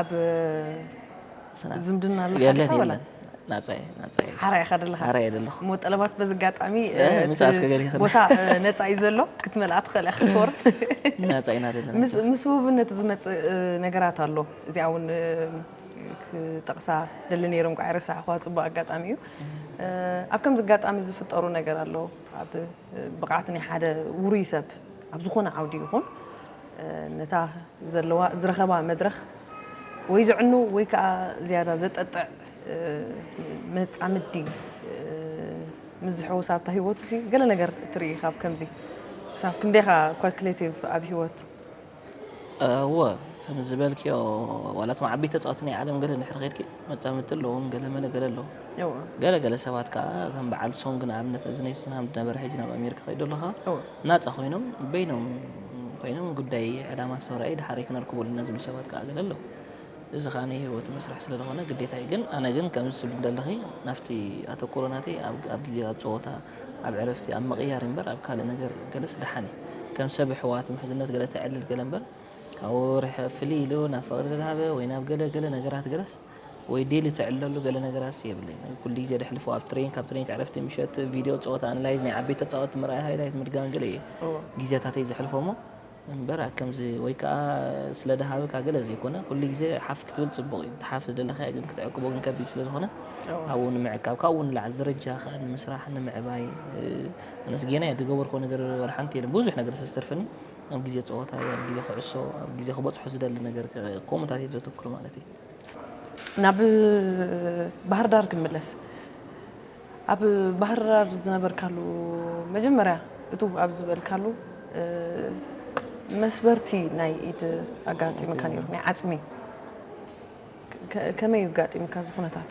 ኣብ ዝምድና ኣለካ የለን ዲኻ ወላ? የለን ናጻ እየ ናጻ እየ ሓራ ኢኻ ዘለኻ ሓራ እየ ዘለኹ እሞ ጠለባት በዚ ኣጋጣሚ እ፣ እቲ ምሳእ እስከ ገለ ይኽእል። ቦታ እ፣ ነፃ እዩ ዘሎ ክትመልኣ ትኽእል ኢኻ ፎርም ናጻ ኢና ዘለና ምስ ምስ ውህብነት ዝመፅእ እ፣ ነገራት ኣሎ እዚኣ እውን እ፣ ክጠቕሳ ደሊ ነይረ እንቋዕ ረሳዕኳ ፅቡቅ ኣጋጣሚ እዩ እ፣ ኣብ ከምዚ ኣጋጣሚ ዝፍጠሩ ነገር ኣሎ ኣብ እ፣ ብቕዓት ናይ ሓደ ውሩይ ሰብ ኣብ ዝኾነ ዓውዲ ይኹን ነታ ዘለዋ ዝረኸባ መድረኽ ወይ ዘዕኑ ወይ ከዓ ዝያዳ ዘጠጥዕ መጻምዲ ምስ ዝሕወስ ኣብታ ህይወቱ ሲ ገለ ነገር እትርኢ ካብ ከምዚ ክሳብ ክንደይኻ ኳልኩሌቲቭ ኣብ ህይወት እወ ከም ዝበልክዮ ዋላቶም ዓበይቲ ተፃወቲ ናይ ዓለም ገለ ድሕሪ ከድኪ መፃምድቲ ኣለዎም ገለ መለ ገለ ኣለዎም ገለ ገለ ሰባት ከዓ ከም በዓል ሶንግ ንኣብነት እዚ ናይ ቶትንሃም ዝነበረ ሕጂ ናብ ኣሜሪካ ከይዶ ኣለካ ናጻ ኮይኖም በይኖም ኮይኖም ጉዳይ ዕላማ ዝተራእዩ ድሓረይ ክነርክቦ ኣለና ዝብሉ ሰባት ከኣ ገለ ኣለዉ። እዚ ከኣ ናይ ሂወቱ መስርሕ ስለ ዝኾነ ግዴታ እዩ። ግን ኣነ ግን ከምዚ ትብሊ ዘለኺ ናብቲ ኣተኩሮ ናተይ ኣብ ኣብ ግዜ ኣብ ጸወታ ኣብ ዕረፍቲ ኣብ ምቕያር እምበር ኣብ ካልእ ነገር ገለስ ድሓን እዩ። ከም ሰብ ኣሕዋት ምሕዝነት ገለ ተዕልል ገለ እምበር ካብኡ ርሕ ፍልይ ኢሉ ናብ ፍቕሪ ድልሃበ ወይ ናብ ገለ ገለ ነገራት ገለስ ወይ ዴሊ ትዕለሉ ገለ ነገራትስ የብለይን ኩሉ ግዜ ደሕልፎ ኣብ ትሬን ካብ ትሬን ዕረፍቲ ምሸት ቪድዮ ፀወታ ኣንላይዝ ናይ ዓበይቲ ተፃወቲ ምርኣይ ሃይላይት ምድጋም ገለ እየ ግዜታተይ ዘሕልፎሞ እምበር ከምዚ ወይ ከዓ ስለ ድሃብካ ገለ ዘይኮነ ኩሉ ግዜ ሓፍ ክትብል ፅቡቕ እዩ ትሓፍ ዝደለኻዮ ግን ክትዕቅቦ ግን ከቢድ ስለ ዝኾነ ኣብኡ ንምዕቃብ ካብኡ ንላዕሊ ደረጃ ከዓ ንምስራሕ ንምዕባይ ኣነስ ጌና እየ ዝገበርኮ ነገር ወላ ሓንቲ የለን ብዙሕ ነገር ዝተርፈኒ ኣብ ግዜ ፀወታ ኣብ ግዜ ክዕሶ ኣብ ግዜ ክበፅሖ ዝደሊ ነገር ከምኡታት እየ ዘተክሩ ማለት እዩ ናብ ባህርዳር ክንምለስ ኣብ ባህርዳር ዝነበርካሉ መጀመርያ እቱ ኣብ ዝበልካሉ መስበርቲ ናይ ኢድ ኣጋጢምካ ነይሩ ናይ ዓፅሚ ከመይ ኣጋጢምካ እዚ ኩነታት?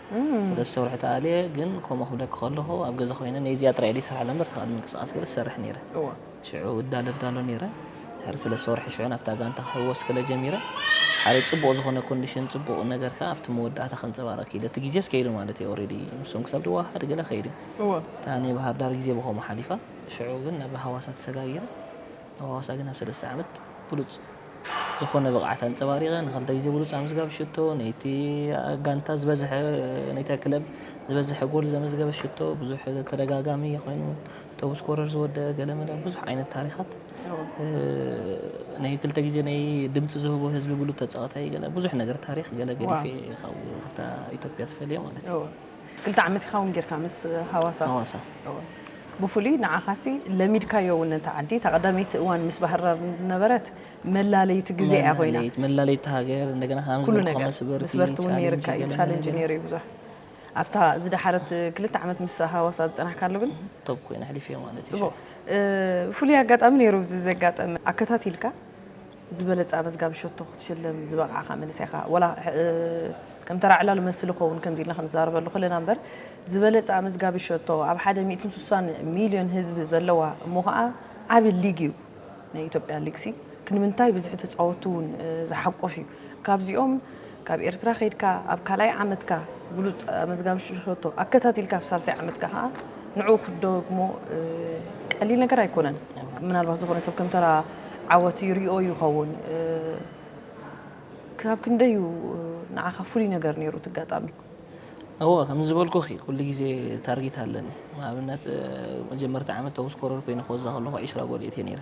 ሰለስተ ወርሒ ተኣልየ ግን ከምኡ ክብለኪ ከለኹ ኣብ ገዛ ኮይነ ነዚኣ ጥራይ ኢለ ይሰርሓላ እምበር እቲ ካልእ ምንቅስቓስ ገይረ ዝሰርሕ ነይረ ሽዑ እዳለ እዳሎ ነይረ ድሕሪ ሰለስተ ወርሒ ሽዑ ናብታ ጋንታ ክሕወስ ከለ ጀሚረ ሓደ ጽቡቕ ዝኾነ ኮንዲሽን ጽቡቕ ነገር ከኣ ኣብቲ መወዳእታ ከንጸባርቕ ክኢለ እቲ ግዜስ ከይዱ ማለት እዩ ኦሬዲ ንሶም ክሳብ ድወሃሃድ ገለ ከይዱ እታ ናይ ባህር ዳር ግዜ ብከምኡ ሓሊፋ ሽዑ ግን ናብ ሃዋሳ ተሰጋጊረ ኣብ ሃዋሳ ግን ኣብ ሰለስተ ዓመት ብሉጽ ዝኾነ ብቕዓት ኣንጸባሪቐ ንክልተ ግዜ ብሉጽ ኣምዝጋቢ ሽቶ ነቲ ጋንታ ዝበዝሐ ነታ ክለብ ዝበዝሐ ጎል ዘመዝገበ ሽቶ ብዙሕ ተደጋጋሚ ኮይኑ ቶብ ስኮረር ዝወደአ ገለመለ ብዙሕ ዓይነት ታሪኻት ናይ ክልተ ግዜ ናይ ድምፂ ዝህቦ ህዝቢ ብሉ ተፃወታይ ገለ ብዙሕ ነገር ታሪኽ ገለ ገዲፌ ካብ ካብታ ኢትዮጵያ ተፈልየ ማለት እዩ። ክልተ ዓመት ይኸውን ጌርካ ምስ ሃዋሳ ሃዋሳ ብፍሉይ ንዓኻሲ ለሚድካዮ እውን ነታ ዓዲ እታ ቀዳመይቲ እዋን ምስ ባህርዳር ነበረት መላለይቲ ግዜ እያ ኮይና መላለይት መላለይቲ ሃገር እንደገና ከኣ ምስ ኩሉ በልኩኻ ነገር መስበርቲ ምስ በርቲ እውን ቻሌንጅ ነይርካ እዩ ገለ ገለ ቻለንጅ ገለ ነይሩ እዩ ብዙሕ ኣብታ ዝደሓረት ክልተ ዓመት ምስ ሃዋሳ ዝፀናሕካሉ ግን ቶብ ኮይነ ኣሕሊፈዮ ማለት እዩ ፅቡቕ እ፣ ፍሉይ ኣጋጣሚ ነይሩ እዚ ዘጋጠመ ኣከታቲልካ ዝበለጸ ኣመዝጋቢ ሸቶ ክትሽለም ዝበቕዓኻ መንእሰይ ኢኻ። ወላ ከም ተራ ዕላል መስል ይኸውን ከምዚ ኢልና ክንዛረበሉ ከለና እምበር ዝበለጸ ኣመዝጋቢ ሸቶ ኣብ ሓደ ሚእትን ስሳን ሚልዮን ህዝቢ ዘለዋ እሞ ከኣ ዓቢ ሊግ እዩ ናይ ኢትዮጵያ ሊግሲ ክንምንታይ ብዝሒ ተጻወትቲ እውን ዝሓቁፍ እዩ ካብዚኦም ካብ ኤርትራ ከይድካ ኣብ ካልኣይ ዓመትካ ብሉጽ ኣመዝጋቢ ሽቶ ኣከታቲልካ ኣብ ሳልሳይ ዓመትካ ከኣ ንዕኡ ክትደግሞ ቀሊል ነገር ኣይኮነን። ምናልባት ዝኾነ ሰብ ከም ተራ ዓወት ይሪኦ ይኸውን። ክሳብ ክንደይ እዩ ንዓኻ ፍሉይ ነገር ነይሩ እቲ ኣጋጣሚ? እወ ከም ዝበልኩኺ ኩሉ ግዜ ታርጌት ኣለኒ። ንኣብነት መጀመርታ ዓመት ቶፕ ስኮረር ኮይነ ክወዛ ከለኹ ዕስራ ጎል የእትየ ነይረ።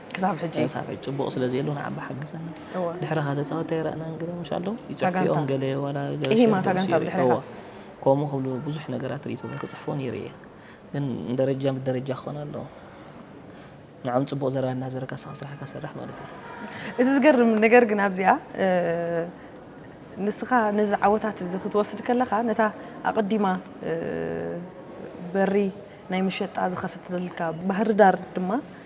ክሳብ ሕጂ ክሳብ ሕጂ ጽቡቕ ስለ ዘየሎ ንዓባ ሓግዘና ድሕሪ ከኣ ተጻወቲ ኣይረኣናን ገለ ምሽ ኣለዉ ይጽሕፍኦም ገለ ዋላ ኢሂማታ ጋንታ ድሕሪ ከምኡ ክብሉ ብዙሕ ነገራት ርእቶ ክጽሕፎ ነይሩ እየ ግን ደረጃ ብደረጃ ክኾን ኣለዎ ንዕም ጽቡቕ ዘረባ እናዘረካ ስኻ ስራሕካ ሰራሕ ማለት እዩ እቲ ዝገርም ነገር ግን ኣብዚኣ ንስኻ ነዚ ዓወታት እዚ ክትወስድ ከለኻ ነታ ኣቐዲማ በሪ ናይ መሸጣ ዝኸፍትልካ ባህርዳር ድማ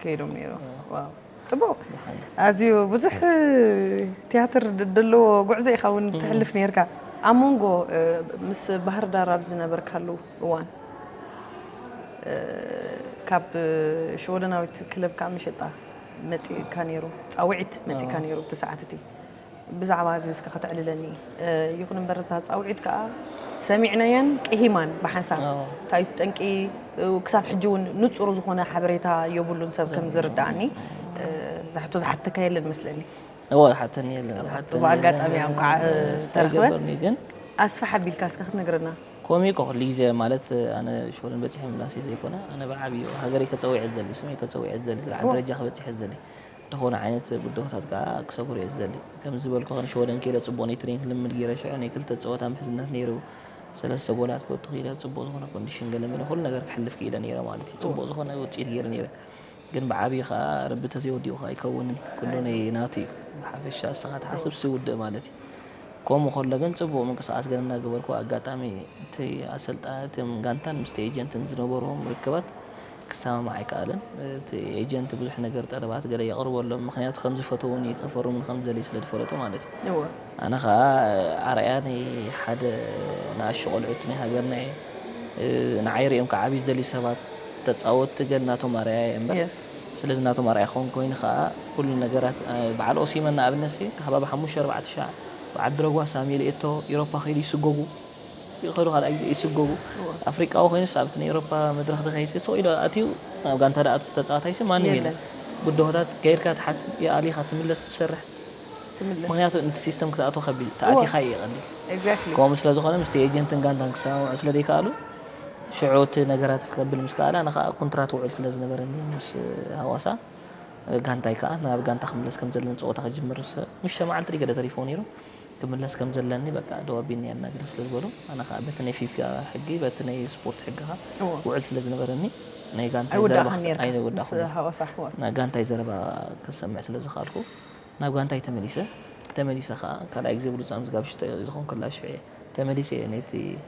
ከይዶም ነይሮም ዋው ጽቡቕ ኣዝዩ ብዙሕ ትያትር ደለዎ ጉዕዞ ኢኻ እውን ትሕልፍ ነርካ ኣብ መንጎ ምስ ባህር ዳር ኣብ ዝነበርካሉ እዋን ካብ ሽወደናዊት ክለብ ከዓ መሸጣ መፂእካ ነይሩ ፃውዒት መፂእካ ነይሩ እቲ ሰዓት እቲ ብዛዕባ እዚ እስከ ከተዕልለኒ። ይኹን እምበር እታ ጻውዒት ከኣ ሰሚዕናያን ቅሂማን ብሓንሳብ። እንታይ እዩ እቲ ጠንቂ? ክሳብ ሕጂ እውን ንጹር ዝኾነ ሓበሬታ የብሉን ሰብ ከም ዝርድኣኒ። እዛ ሕቶ ዝሓተካ የለን መስለኒ። እወ ዝሓተኒ የለን። ዝሓተኒ የለን። ብኣጋጣሚ እያ እንኳዕ ዝተረኽበት። ኣስፍሕ ኣቢልካ እስከ ክትነግረና። ከምኡ እኮ ኩሉ ግዜ ማለት ኣነ ሾርን በጺሐ ምላሰይ ዘይኮነ ኣነ ብዓብዩ ሃገረይ ከጸዊዐ ዝደሊ ስመይ ከጸዊዐ ዝደሊ ዝለዓለ ደረጃ ክበጺሐ ዝደሊ ዝኾነ ዓይነት ብድሆታት ከኣ ክሰግሮ'የ ዝደሊ። ከም ዝበልኩኻ ንሽወደን ከይደ ጽቡቕ ናይ ትሬኒንግ ልምምድ ገይረ ሽዑ ናይ ክልተ ጸወታ ምሕዝነት ነይሩ። ሰለስተ ጎላት ክወቱ ክኢለ ጽቡቕ ዝኾነ ኮንዲሽን ገለመለ ኩሉ ነገር ክሕልፍ ክኢለ ነይረ ማለት'ዩ። ጽቡቕ ዝኾነ ውጽኢት ገይረ ነይረ። ግን ብዓቢኡ ከኣ ረቢ ተዘይወዲኡካ ኣይከውንን ኩሉ ናይ ናቱ'ዩ። ብሓፈሻ እስኻ ትሓስብ ሲ ውድእ ማለት'ዩ። ከምኡ ከሎ ግን ጽቡቕ ምንቅስቓስ ገለ እንዳገበርኩ ኣጋጣሚ እቲ ኣሰልጣ እቶም ጋንታን ምስቲ ኤጀንትን ዝነበርዎም ርክባት ክሰማማዕ ኣይከኣለን። እቲ ኤጀንት ብዙሕ ነገር ጠለባት ገለ የቕርበሎም፣ ምኽንያቱ ከም ዝፈተዉን'ዩ፣ ከፈርሙን ከም ዝደልዩ ስለ ዝፈለጡ ማለት'ዩ። እወ። ኣነ ከኣ ኣርኣያ ናይ ሓደ ንኣሽቱ ቆልዑት ናይ ሃገርና'የ። ንዓይ ሪኦም ክዓብዩ ዝደልዩ ሰባት፣ ተጻወትቲ ገል ናቶም ኣርኣያ'የ እምበር፣ ስለዚ ናቶም ኣርኣያ ክኸውን ኮይኑ ከኣ ኩሉ ነገራት በዓል ኦሲመን ንኣብነትሲ ሃባብ ሓሙሽተ ኣርባዕተ ሻዕ ብዓዲ ረጓሳ ኣሜል ኤቶ ኢሮፓ ከይዱ ይስጎጉ። ይኸዱ ካልኣይ ግዜ ይስጎጉ ኣፍሪቃዊ ኮይኑስ ኣብቲ ናይ ኤሮፓ መድረኽ ድኸይሲ ሱቕ ኢሉ ኣትዩ ናብ ጋንታ ድኣቱ ዝተጻወታይሲ ማንም የለን ብድሆታት ከይድካ ትሓስብ የኣሊኻ ትምለስ ትሰርሕ ትምለስ ምክንያቱ ንቲ ሲስተም ክትኣቱ ከቢድ ተኣቲኻ ኢዩ ቀሊል ኤግዛክትሊ ከምኡ ስለ ዝኾነ ምስቲ ኤጀንትን ጋንታን ክሰማምዑ ስለ ዘይከኣሉ ሽዑ እቲ ነገራት ክከብል ምስ ከኣለ ኣነ ከኣ ኩንትራት ውዕል ስለ ዝነበረኒ ምስ ሃዋሳ ጋንታይ ከኣ ናብ ጋንታ ክምለስ ከም ዘለኒ ጸወታ ክጅምር ምስ ሸማዓልቲ ድዩ ገለ ተሪፍዎ ነይሩ ክምለስ ከም ዘለኒ በቃ ደው ኣቢኒ ኣናግረ ስለ ዝበሎ ኣነ ከኣ በቲ ናይ ፊፋ ሕጊ በቲ ናይ ስፖርት ሕጊ ከኣ እዎ ውዕል ስለ ዝነበረኒ ናይ ጋንታይ ዘረባ ኣይውዳእካን ክሰ- ኔርካ ኣይወዳእኩን ምስ ኔረ። ሃዋሳ ኣሕዋት ናይ ጋንታይ ዘረባ ክሰምዕ ስለ ዝኸኣልኩ ናብ ጋንታይ ተመሊሰ ተመሊሰ ከኣ ካልኣይ ግዜ ብሉጽ ኣምዝጋቢ ሽቶ ዝኸንኩላ ሽዑ እየ ተመሊሰ እየ ነቲ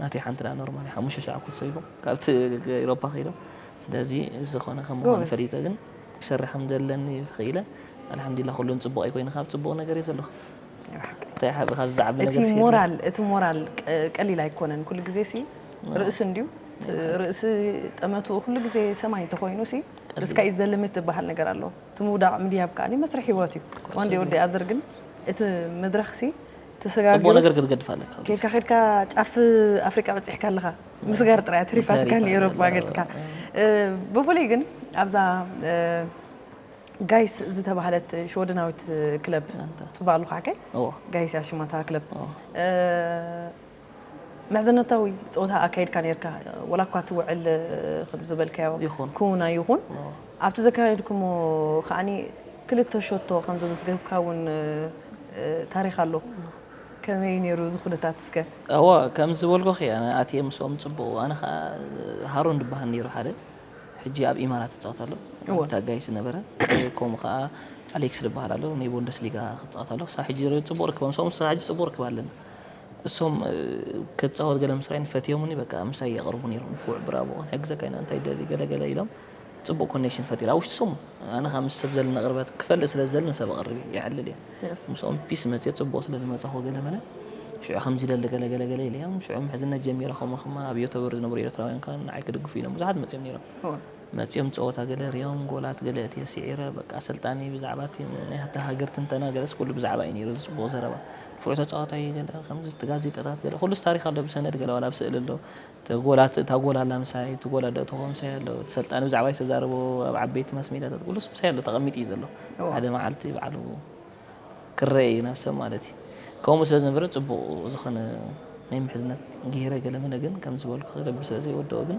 ናተይ ሓንቲ ደኣ ኖርማል እያ ሓሙሽተ ሻዕ ኩሱ ኢሉ ካብቲ ኢሮፓ ከይዱ ስለዚ ዝኾነ ከም ምዃኑ ጎበዝ ፈሊጠ ግን ክሰርሕ ከም ዘለኒ ክኢለ ኣልሓምዱሊላህ ኩሉ ንጽቡቕ እዩ ኮይኑ ካብ ጽቡቕ ነገር እየ ዘለኹ ናይ ብሓቂ እንታይ ሓቢ ካብዚ ዝዓቢ እቲ ነገርስ የለን ሞራል እቲ ሞራል ቀ- ቀሊል ኣይኮነን ኩሉ ግዜ ሲ ርእሲ እንድዩ ት- ርእሲ ጠመትኡ ኩሉ ግዜ ሰማይ እንተኮይኑ ሲ ቀሊል ስካይ ዘ ሊሚት ዝበሃል ነገር ኣሎ እቲ ምውዳቕ ምድያብ ከዓኒ መስርሕ ሂወት እዩ ኮርስ ዋን ዴይ ኦር ዴይ ኣዘር ግን እቲ መድረኽ ሲ ጽቡቅ ነገር ክትገድፍ ኣለካ ኬድካ ኬድካ ጫፍ ኣፍሪቃ በጺሕካ ኣለኻ ምስጋር ጥራይ ኣትሪፋትካ ንኤውሮጳ ገጽካ ብፍሉይ ግን ኣብዛ ጋይስ ዝተባህለት ሽወደናዊት ክለብ ጽቡቅ ኣለኹ ሓቀይ ጋይስ እያ ሽማታ ክለብ ምሕዝነታዊ ጸወታ ኣካይድካ ኔርካ ወላ እኳ እቲ ውዕል ከም ዝበልካዮ ይኹን። ክውን ኣይኹን ኦ። ኣብቲ ዘካየድኩሞ ከዓኒ ክልተ ሸቶ ከም ዘመዝገብካ እውን እ፣ ታሪኽ ኣሎ ከመይ እዩ ኔሩ እዚ ኩነታት እስከ? እወ ከም ዝበልኩኺ ኣነ ኣትየ ምስኦም ጽቡቕ ኣነ ኸኣ ሃሩን ዝበሃል ነይሩ ሓደ ሕጂ ኣብ ኢማራት ይጻወት ኣሎ እወ። ኣብ ታጋይ ዝነበረ ከምኡ ኸኣ ኣሌክስ ዝበሃል ኣሎ ናይ ቦንደስ ሊጋ ክጻወት ኣሎ ክሳብ ሕጂ ጽቡቕ ርክብ ምስኦም ክሳብ ሕጂ ጽቡቕ ርክብ ኣለኒ እሶም ክጻወት ገለ ምስ ራኣዩኒ ፈትዮሙኒ በቃ ምሳይ የቅርቡ ኔሮም ንፉዕ ብራቮ ክንሕግዘካ ኢና እንታይ ትደሊ ገለ ገለ ኢሎም ጽቡቅ ኮኔክሽን ፈጢረ ኣብ ውሽጢ ሰሙን ኣነ ከኣ ምስ ሰብ ዘለኒ ቅርበት ክፈልጥ ስለ ዝደሊ ንሰብ ኣቅርብ እየ የዕልል እየ Yes. ምስኦም ፒስ መጽየ ጽቡቅ ስለ ዝመጻኹ ገለ መለ ሽዑ ከምዚ ይደሊ ገለ ገለ ገለ ኢለዮም ሽዑ ምሕዝነት ጀሚረ ከምኡ ከማ ኣብ ዮቶበር ዝነበሩ ኤርትራውያን ከኣ ንዓይ ክድግፉ ኢሎም ብዙሓት መጽዮም ኔሮም እወ። መጽዮም ጸወታ ገለ ርዮም ጎላት ገለ እትየ ሲዒረ በቃ ኣሰልጣኒ ብዛዕባ እቲ ናይ እታ ሃገር ትንተና ገለስ ኩሉ ብዛዕባ እዩ ኔሩ እዚ ጽቡቅ ዘረባ ፍሉይ ተጻዋታይ እዩ ገለ ከምዚ እቲ ጋዜጠታት ገለ ኩሉስ ታሪኽ ኣሎ ብሰነድ ገለ ዋላ ብስእሊ ኣሎ እቲ ጎል እታ ጎል ኣላ ምሳይ እቲ ጎል ኣዶ ተኾ ምሳይ ኣሎ እቲ ሰልጣኒ ብዛዕባይ ዝተዛረቦ ኣብ ዓበይቲ ማስ ሜድያታት ኩሉስ ምሳይ ኣሎ ተቐሚጡ እዩ ዘሎ ሓደ መዓልቲ በዓሉ ክረአ እዩ ናብ ሰብ ማለት እዩ ከምኡ ስለ ዝነበረ ጽቡቕ ዝኾነ ናይ ምሕዝነት ገይረ ገለ መለ ግን ከም ዝበልኩ ክገብር ስለ ዘይወደኦ ግን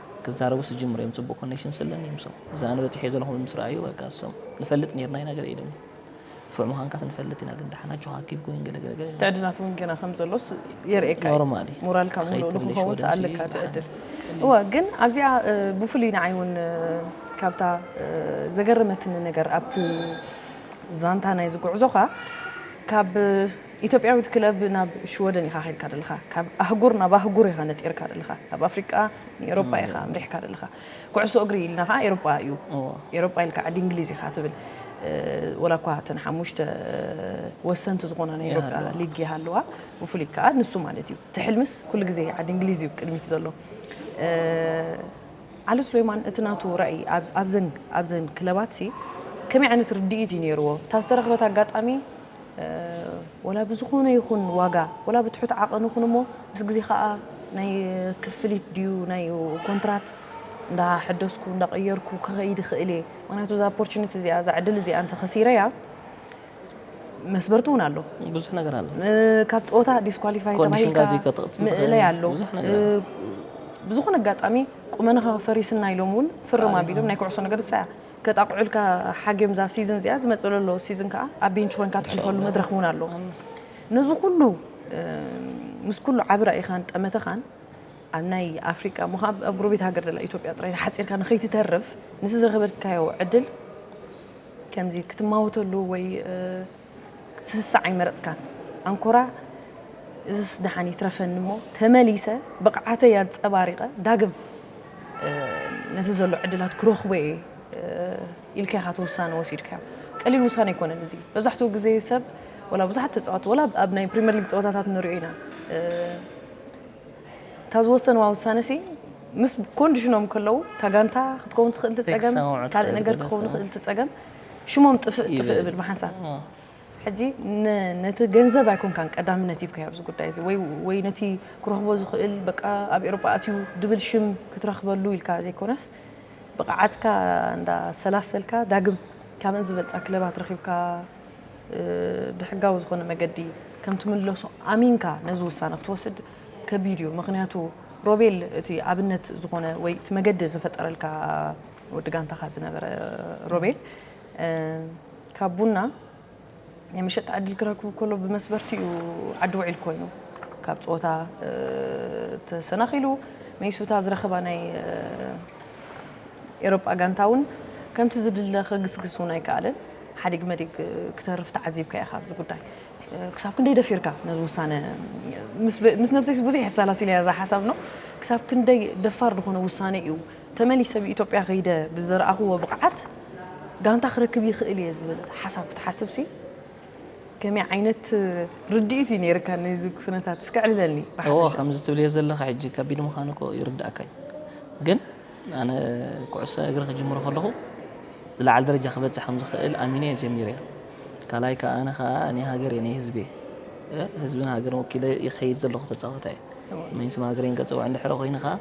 ክዛረቡ ስጅምሩ እዮም ጽቡቅ ኮኔክሽን ስለኒ ምሶም እዚ ኣነ በጺሐዮ ዘለኹ ምስ ረኣዩ በቃ እሶም ንፈልጥ ኔርና ኢና ገለ ኢሉኒ ንፉዕ ምዃንካስ ንፈልጥ ኢና ግን ደሓን ኣጆኻ ኪፕ ጎይንግ ገለ ገለ ገለ ትዕድናት እውን ገና ከም ዘሎስ የርእየካ እዩ ኖርማል እዩ ሞራልካ ክኸይድ ምሉእ ትብልሽ ንክኸውን ወደንሲ ሰኣለካ ደሓን ትዕድል ቀሊል እወ ግን ኣብዚኣ እ፣ ብፍሉይ ንዓይ እውን እ፣ ካብታ እ፣ ዘገረመትኒ ነገር ኣብቲ ዛንታ ናይዚ ጉዕዞኻ ካብ ኢትዮጵያዊት ክለብ ናብ ሽወደን ኢኻ ከድካ ደለኻ ካብ ኣህጉር ናብ ኣህጉር ኢኻ ነጢርካ ደለኻ ካብ ኣፍሪቃ ንኤሮጳ ኢኻ ኣምሪሕካ ደለኻ ኩዕሶ እግሪ ኢልና ከኣ ኤሮጳ እዩ ኤሮጳ ኢልካ ዓዲ እንግሊዝ ኢኻ ትብል ወላ እኳ እተን ሓሙሽተ ወሰንቲ ዝኾና ናይ ኤሮጳ ሊግ ይሃልዋ ብፍሉይ ከኣ ንሱ ማለት እዩ እቲ ሕልምስ ኩሉ ግዜ ዓዲ እንግሊዝ እዩ ቅድሚት ዘሎ ዓሊ ሱሌማን እቲ ናቱ ራእይ ኣብዘን ኣብዘን ክለባት ሲ ከመይ ዓይነት ርድኢት እዩ ነይርዎ እታ ዝተረኽበት ኣጋጣሚ ወላ ብዝኾነ ይኹን ዋጋ ወላ ብትሑት ዓቐን ይኹን እሞ ምስ ግዜ ከኣ ናይ ክፍሊት ድዩ ናይ ኮንትራት እንዳ ሕደስኩ እንዳ ቀየርኩ ክኸይድ ይኽእል እየ ምክንያቱ እዛ ኦፖርቹኒቲ እዚኣ እዛ ዕድል እዚኣ እንተ ከሲረያ መስበርቲ እውን ኣሎ ብዙሕ ነገር ኣሎ ካብ ፀወታ ዲስኳሊፋይ ተባሂልካ ምእለይ ኣሎ ብዝኾነ ኣጋጣሚ ቁመናኻ ፈሪስና ኢሎም እውን ፍርም ኣቢሎም ናይ ኩዕሶ ነገር ሳያ ከጣቕዑልካ ሓግዮም እዛ ሲዝን እዚኣ ዝመጽእ ዘሎ ሲዝን ከኣ ኣብ ቤንች ኮንካ ትሕልፈሉ መድረኽ እውን ኣሎ ነዚ ኩሉ ምስ ኩሉ ዓቢ ራኢኻን ጠመተኻን ኣብ ናይ ኣፍሪቃ እሞ ኣብ ጎረቤት ሃገር ዘላ ኢትዮጵያ ጥራይ ተሓጺርካ ንኸይትተርፍ ነቲ ዝረኸበልካዮ ዕድል ከምዚ ክትማወተሉ ወይ ክትስስዕ ኣይመረጽካን። ኣንኮራ እዝስ ደሓን ይትረፈኒ እሞ ተመሊሰ ብቕዓተይ ኣንጸባሪቐ ዳግም ነቲ ዘሎ ዕድላት ክረኽቦ እየ ኢልካ ኢኻ እቲ ውሳነ ወሲድካዮ። ቀሊል ውሳነ ኣይኮነን እዚ። መብዛሕትኡ ግዜ ሰብ ወላ ብዙሓት ተጻወቲ ወላ ኣብ ናይ ፕሪምየር ሊግ ጸወታታት ንሪኦ ኢና እታ ዝወሰንዋ ውሳነ ሲ ምስ ኮንዲሽኖም ከለዉ እታ ጋንታ ክትከውን ትኽእል ትጸገም ካልእ ነገር ክኸውን ይኽእል ትጸገም ሽሞም ጥፍእ ጥፍእ እብል ብሓንሳብ ሕጂ ነቲ ገንዘብ ኣይኮንካን ቀዳምነት ሂብካዮ ኣብዚ ጉዳይ እዚ ወይ ወይ ነቲ ክረኽቦ ዝኽእል በቃ ኣብ ኤውሮጳ ኣትዩ ድብል ሽም ክትረኽበሉ ኢልካ ዘይኮነስ ብቕዓትካ እንዳሰላሰልካ ዳግም ካብን ዝበልፃ ክለባት ረኺብካ ብሕጋዊ ዝኾነ መገዲ ከም ትምለሶ ኣሚንካ ነዚ ውሳነ ክትወስድ ከቢድ እዩ። ምክንያቱ ሮቤል እቲ ኣብነት ዝኾነ ወይ እቲ መገዲ ዝፈጠረልካ ወዲ ጋንታኻ ዝነበረ ሮቤል ካብ ቡና ናይ መሸጣ ዕድል ክረክቡ ከሎ ብመስበርቲ እዩ ዓዲ ውዒል ኮይኑ ካብ ፀወታ ተሰናኺሉ መይሱታ ዝረኸባ ናይ ኤሮጳ ጋንታ እውን ከምቲ ዝድለ ከግስግስ እውን ኣይከኣለን ሓዲግ መዲግ ክተርፍ ተዓዚብካ ኢኻ ኣብዚ ጉዳይ ክሳብ ክንደይ ደፊርካ ነዚ ውሳነ ምስ ነብሰይስ ብዙሕ የሰላሲለያ እዛ ሓሳብ ነው ክሳብ ክንደይ ደፋር ዝኾነ ውሳነ እዩ ተመሊሰ ኣብ ኢትዮጵያ ከይደ ብዝረኣኹዎ ብቕዓት ጋንታ ክረክብ ይኽእል እየ ዝብል ሓሳብ ክትሓስብሲ ከመይ ዓይነት ርድኢት እዩ ነይርካ ነዚ ኩነታት እስከ ዕልለኒ እዎ ከምዚ ትብልዮ ዘለኻ ሕጂ ከቢድ ምዃኑ እኮ ይርዳእካ እዩ ግን ኣነ ኩዕሶ እግሪ ክጅምሮ ከለኹ ዝለዓለ ደረጃ ክበፅሕ ከም ዝኽእል ኣሚነ እየ ጀሚረ ካልኣይ ከዓ ኣነ ከዓ ናይ ሃገር እየ ናይ ህዝቢ እየ ህዝብን ሃገርን ወኪለ ይኸይድ ዘለኹ ተፃወታይ ስመኝ ስም ሃገረይን ከፀውዕ እንድሕረ ኮይኑ ከዓ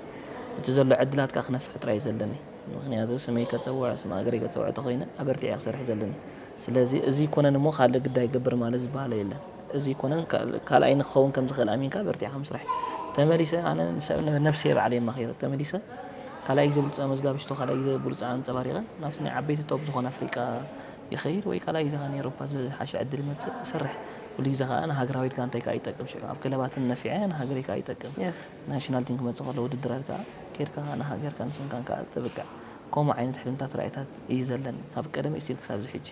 እቲ ዘሎ ዕድላት ከኣ ክነፍሕ ጥራይ እዩ ዘለኒ ምኽንያቱ ስመይ ከጸውዕ ስም ሃገረይ ከጸውዕ ተኾይነ ኣበርቲዐ ክሰርሕ ዘለኒ ስለዚ እዚ ኣይኮነን እሞ ካልእ ግዳ ይገብር ማለት ዝበሃሎ የለን እዚ ኣይኮነን ካልኣይኒ ክኸውን ከም ዝኽእል ኣሚንካ በርቲዕካ ምስራሕ ተመሊሰ ኣነ ነብሰይ ባዕለይ የማኺረ ተመሊሰ ካልኣይ ግዜ ብሉጽ ኣመዝጋቢ ሽቶ ካልኣይ ግዜ ብሉጽ ኣንጸባሪቐ ናብቲ ናይ ዓበይቲ ቶፕ ዝኾነ ኣፍሪቃ ይኸይድ ወይ ካልኣይ ግዜ ከኣ ንኤሮፓ ዝሓሸ ዕድል ይመጽእ ይሰርሕ ኩሉ ግዜ ከኣ ንሃገራዊት ጋንታይ ከኣ ይጠቅም ሽዑ ኣብ ክለባትን ነፊዐ ንሃገረይ ከኣ ይጠቅም ናሽናል ቲም ክመጽእ ከሎ ውድድራት ከኣ ኬድካ ንሃገርካን ስምካን ከኣ ተብቅዕ ከምኡ ዓይነት ሕልምታት ራኢታት እዪ ዘለኒ ካብ ቀደም ኢስቲል ክሳብ እዚ ሕጂ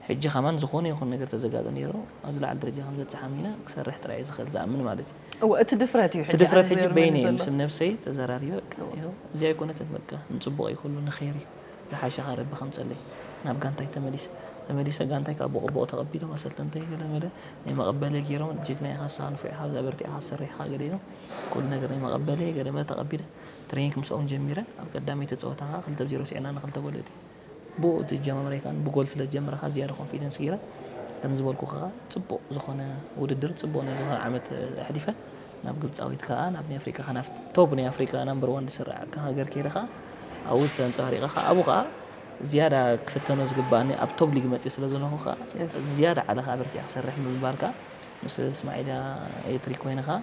ሕጂ ከማን ዝኮነ ይኩን ነገር ተዘጋጦ ኔሩ ኣብ ዝለዓለ ደረጃ ከምበጽሕ ኣሚነ ክሰርሕ ጥራይ እዪ ዝክእል ዝኣምን ማለት እዪ። እወ እቲ ድፍረት እዩ እቲ ድፍረት ሕጂ በይነይ ምስ ነብሰይ ተዘራሪበ እወ እዚኣ ኣይኮነትን በቃ ንጽቡቅ እዪ ኩሉ ንኬር እዪ። ዝሓሸ ክረቢ ከም ጸለይ ናብ ጋንታይ ተመሊሰ ተመሊሰ ጋንታይ ካብ ቦቆቦቆ ተቀቢሎም ኣሰልጠንተይ ገለ መለ ናይ መቀበለ ጌሮም ጅግና ኢካ ንስካ ንፉዕ ኢካ ኣብዚ ኣበርቲዕካ ትሰርሕ ኢካ ገለ ኢሎም ኩሉ ነገር ናይ መቀበለ ገለ መለ ተቀቢለ ትሬኒንግ ምስኦም ጀሚረ ኣብ ቀዳመይቲ ጸወታ ከኣ ክልተ ብ ዜሮ ሲዕና ን ክልተ ጎል እቲ ብኡ እቲ ኣጀማምራይ ከኣ ብ ጎል ስለ ዝጀመረ ከኣ ዝያዳ ኮንፊደንስ ጌረ ከምዚ ዝበልኩ ከኣ ጽቡቅ ዝኮነ ውድድር ጽቡቅ ናይ ዝኮነ ዓመት ኣሕሊፈ። ናብ ግብጻዊት ከኣ ናብ ናይ ኣፍሪቃ ከኣ ናብቲ ቶብ ናይ ኣፍሪቃ ናምበር ዋን ዝስራዕ ከ ሃገር ከይደ ከኣ ኣብኡ ተንጸባሪቐ ከኣ ኣብኡ ከኣ ዝያዳ ክፍተኖ ዝግብኣኒ ኣብ ቶብ ሊግ መጺእ ስለ ዘለኹ ከኣ ዝያዳ ዓለኻ ኣበርቲዕካ ክሰርሕ ምብባር ከኣ ምስ እስማዒልያ ኤትሪ ኮይነ ከኣ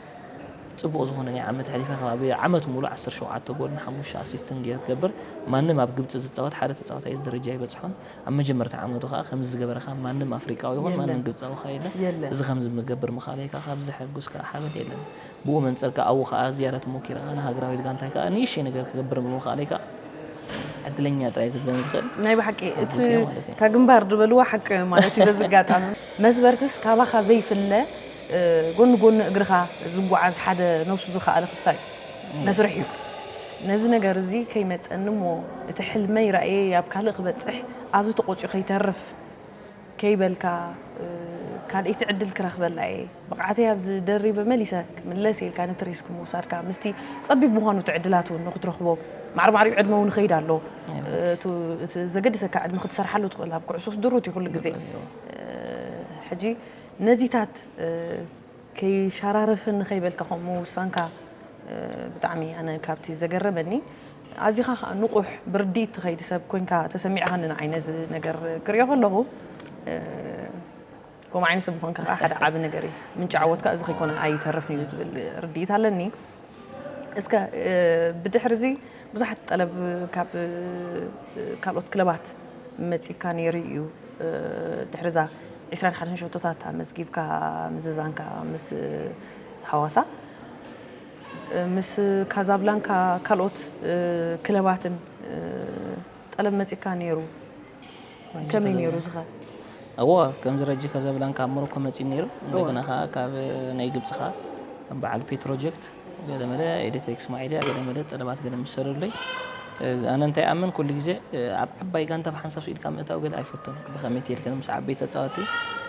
ጽቡቕ ዝኾነ ናይ ዓመት ኣሕሊፈ ከባቢ ዓመት ሙሉ ዓሰርተ ሸውዓተ ጎል ንሓሙሽተ ኣሲስትን ገይረ ትገብር ማንም ኣብ ግብጺ ዝጻወት ሓደ ተጻዋታይ እዚ ደረጃ ኣይበጽሖን ኣብ መጀመርታ ዓመቱ ከኣ ከምዚ ዝገበረካ ማንም ኣፍሪቃዊ ይኹን ማንም ግብጻዊ ከኣ የለን። እዚ ከምዚ ምገብር ምኻነይካ ካብ ዘሐጉስ ከኣ ሓበን የለን። ብኡ መንጽር ከኣ ኣብኡ ከኣ ዝያዳ ተሞኪርካ ንሃገራዊት ጋንታይ ከኣ ንእሽተይ ነገር ክገብር ብምኻነይ ከኣ ዕድለኛ ጥራይ ዝብለን ዝኽእል ናይ ብሓቂ እቲ ሓጉስ እየ ማለት እየ። እታ ግንባር ድበልዋ ሓቂ እዮ ማለት እዩ በዚ ኣጋጣሚ። መስበርትስ ካባኻ ዘይፍለ ጎኒ ጎኒ እግርኻ ዝጎዓዝ ሓደ ነብሱ ዝኸኣለ ክፋይ መስርሕ እዩ። ነዚ ነገር እዚ ከይመጸኒ እሞ እቲ ሕልመይ ራእየይ ኣብ ካልእ ክበጽሕ ኣብዚ ተቖጽዩ ከይተርፍ ከይበልካ ካልኣይቲ ዕድል ክረኽበላ እየ ብቕዓተይ ኣብዚ ደሪበ መሊሰ ክምለስ ኢልካ ነቲ ሪስክ ምውሳድካ ምስቲ ጸቢብ ምዃኑ እቲ ዕድላት እውን ንክትረኽቦ ማዕሪማዕሪኡ ዕድመ እውን ይኸይድ ኣሎ እቲ ዘገድሰካ ዕድመ ክትሰርሓሉ ትኽእል ኣብ ኩዕሶስ ድሩት እዩ ኩሉ ግዜ ሕጂ ነዚታት ከይሻራረፈኒ ከይበልካ ከምኡ ምውሳንካ ብጣዕሚ ኣነ ካብቲ ዘገረመኒ ኣዚኻ ከዓ ንቑሕ ብርድኢት ትኸይድ ሰብ ኮንካ ተሰሚዕኻኒ ንዓይ ነዚ ነገር ክሪኦ ከለኹ ከምኡ ዓይነት ሰብ ምዃንካ ከዓ ሓደ ዓቢ ነገር እዩ ምንጪ ዓወትካ እዚ ከይኮነ ኣይተርፍን እዩ ዝብል ርድኢት ኣለኒ እስከ ብድሕሪ እዚ ብዙሓት ጠለብ ካብ ካልኦት ክለባት መጺካ ነይሩ እዩ ድሕሪ እዛ ዕስራን ሓደን ሸቶታት ኣመዝጊብካ ምዝዛንካ ምስ ሃዋሳ ምስ ካዛብላንካ ካልኦት ክለባትን ጠለብ መጺካ ነይሩ ከመይ ነይሩ እዚ ከ? እወ ከምዚ ረጂ ከዘብላን ካብ ሞሮኮ መጺኡ ነይሩ እንደገና ከኣ ካብ ናይ ግብጺ ከኣ በዓል ፔትሮጀክት ገለ መለ ኤሌክትሪክ እስማዒልያ ገለ መለ ጠለባት ገለ ምስ ሰደዱለይ ኣነ እንታይ ይኣምን ኩሉ ግዜ ኣብ ዓባይ ጋንታ ብሓንሳብ ስኢልካ ምእታው ገለ ኣይፈቱን ብኸመይ ትልክን ምስ ዓበይቲ ተጻወቲ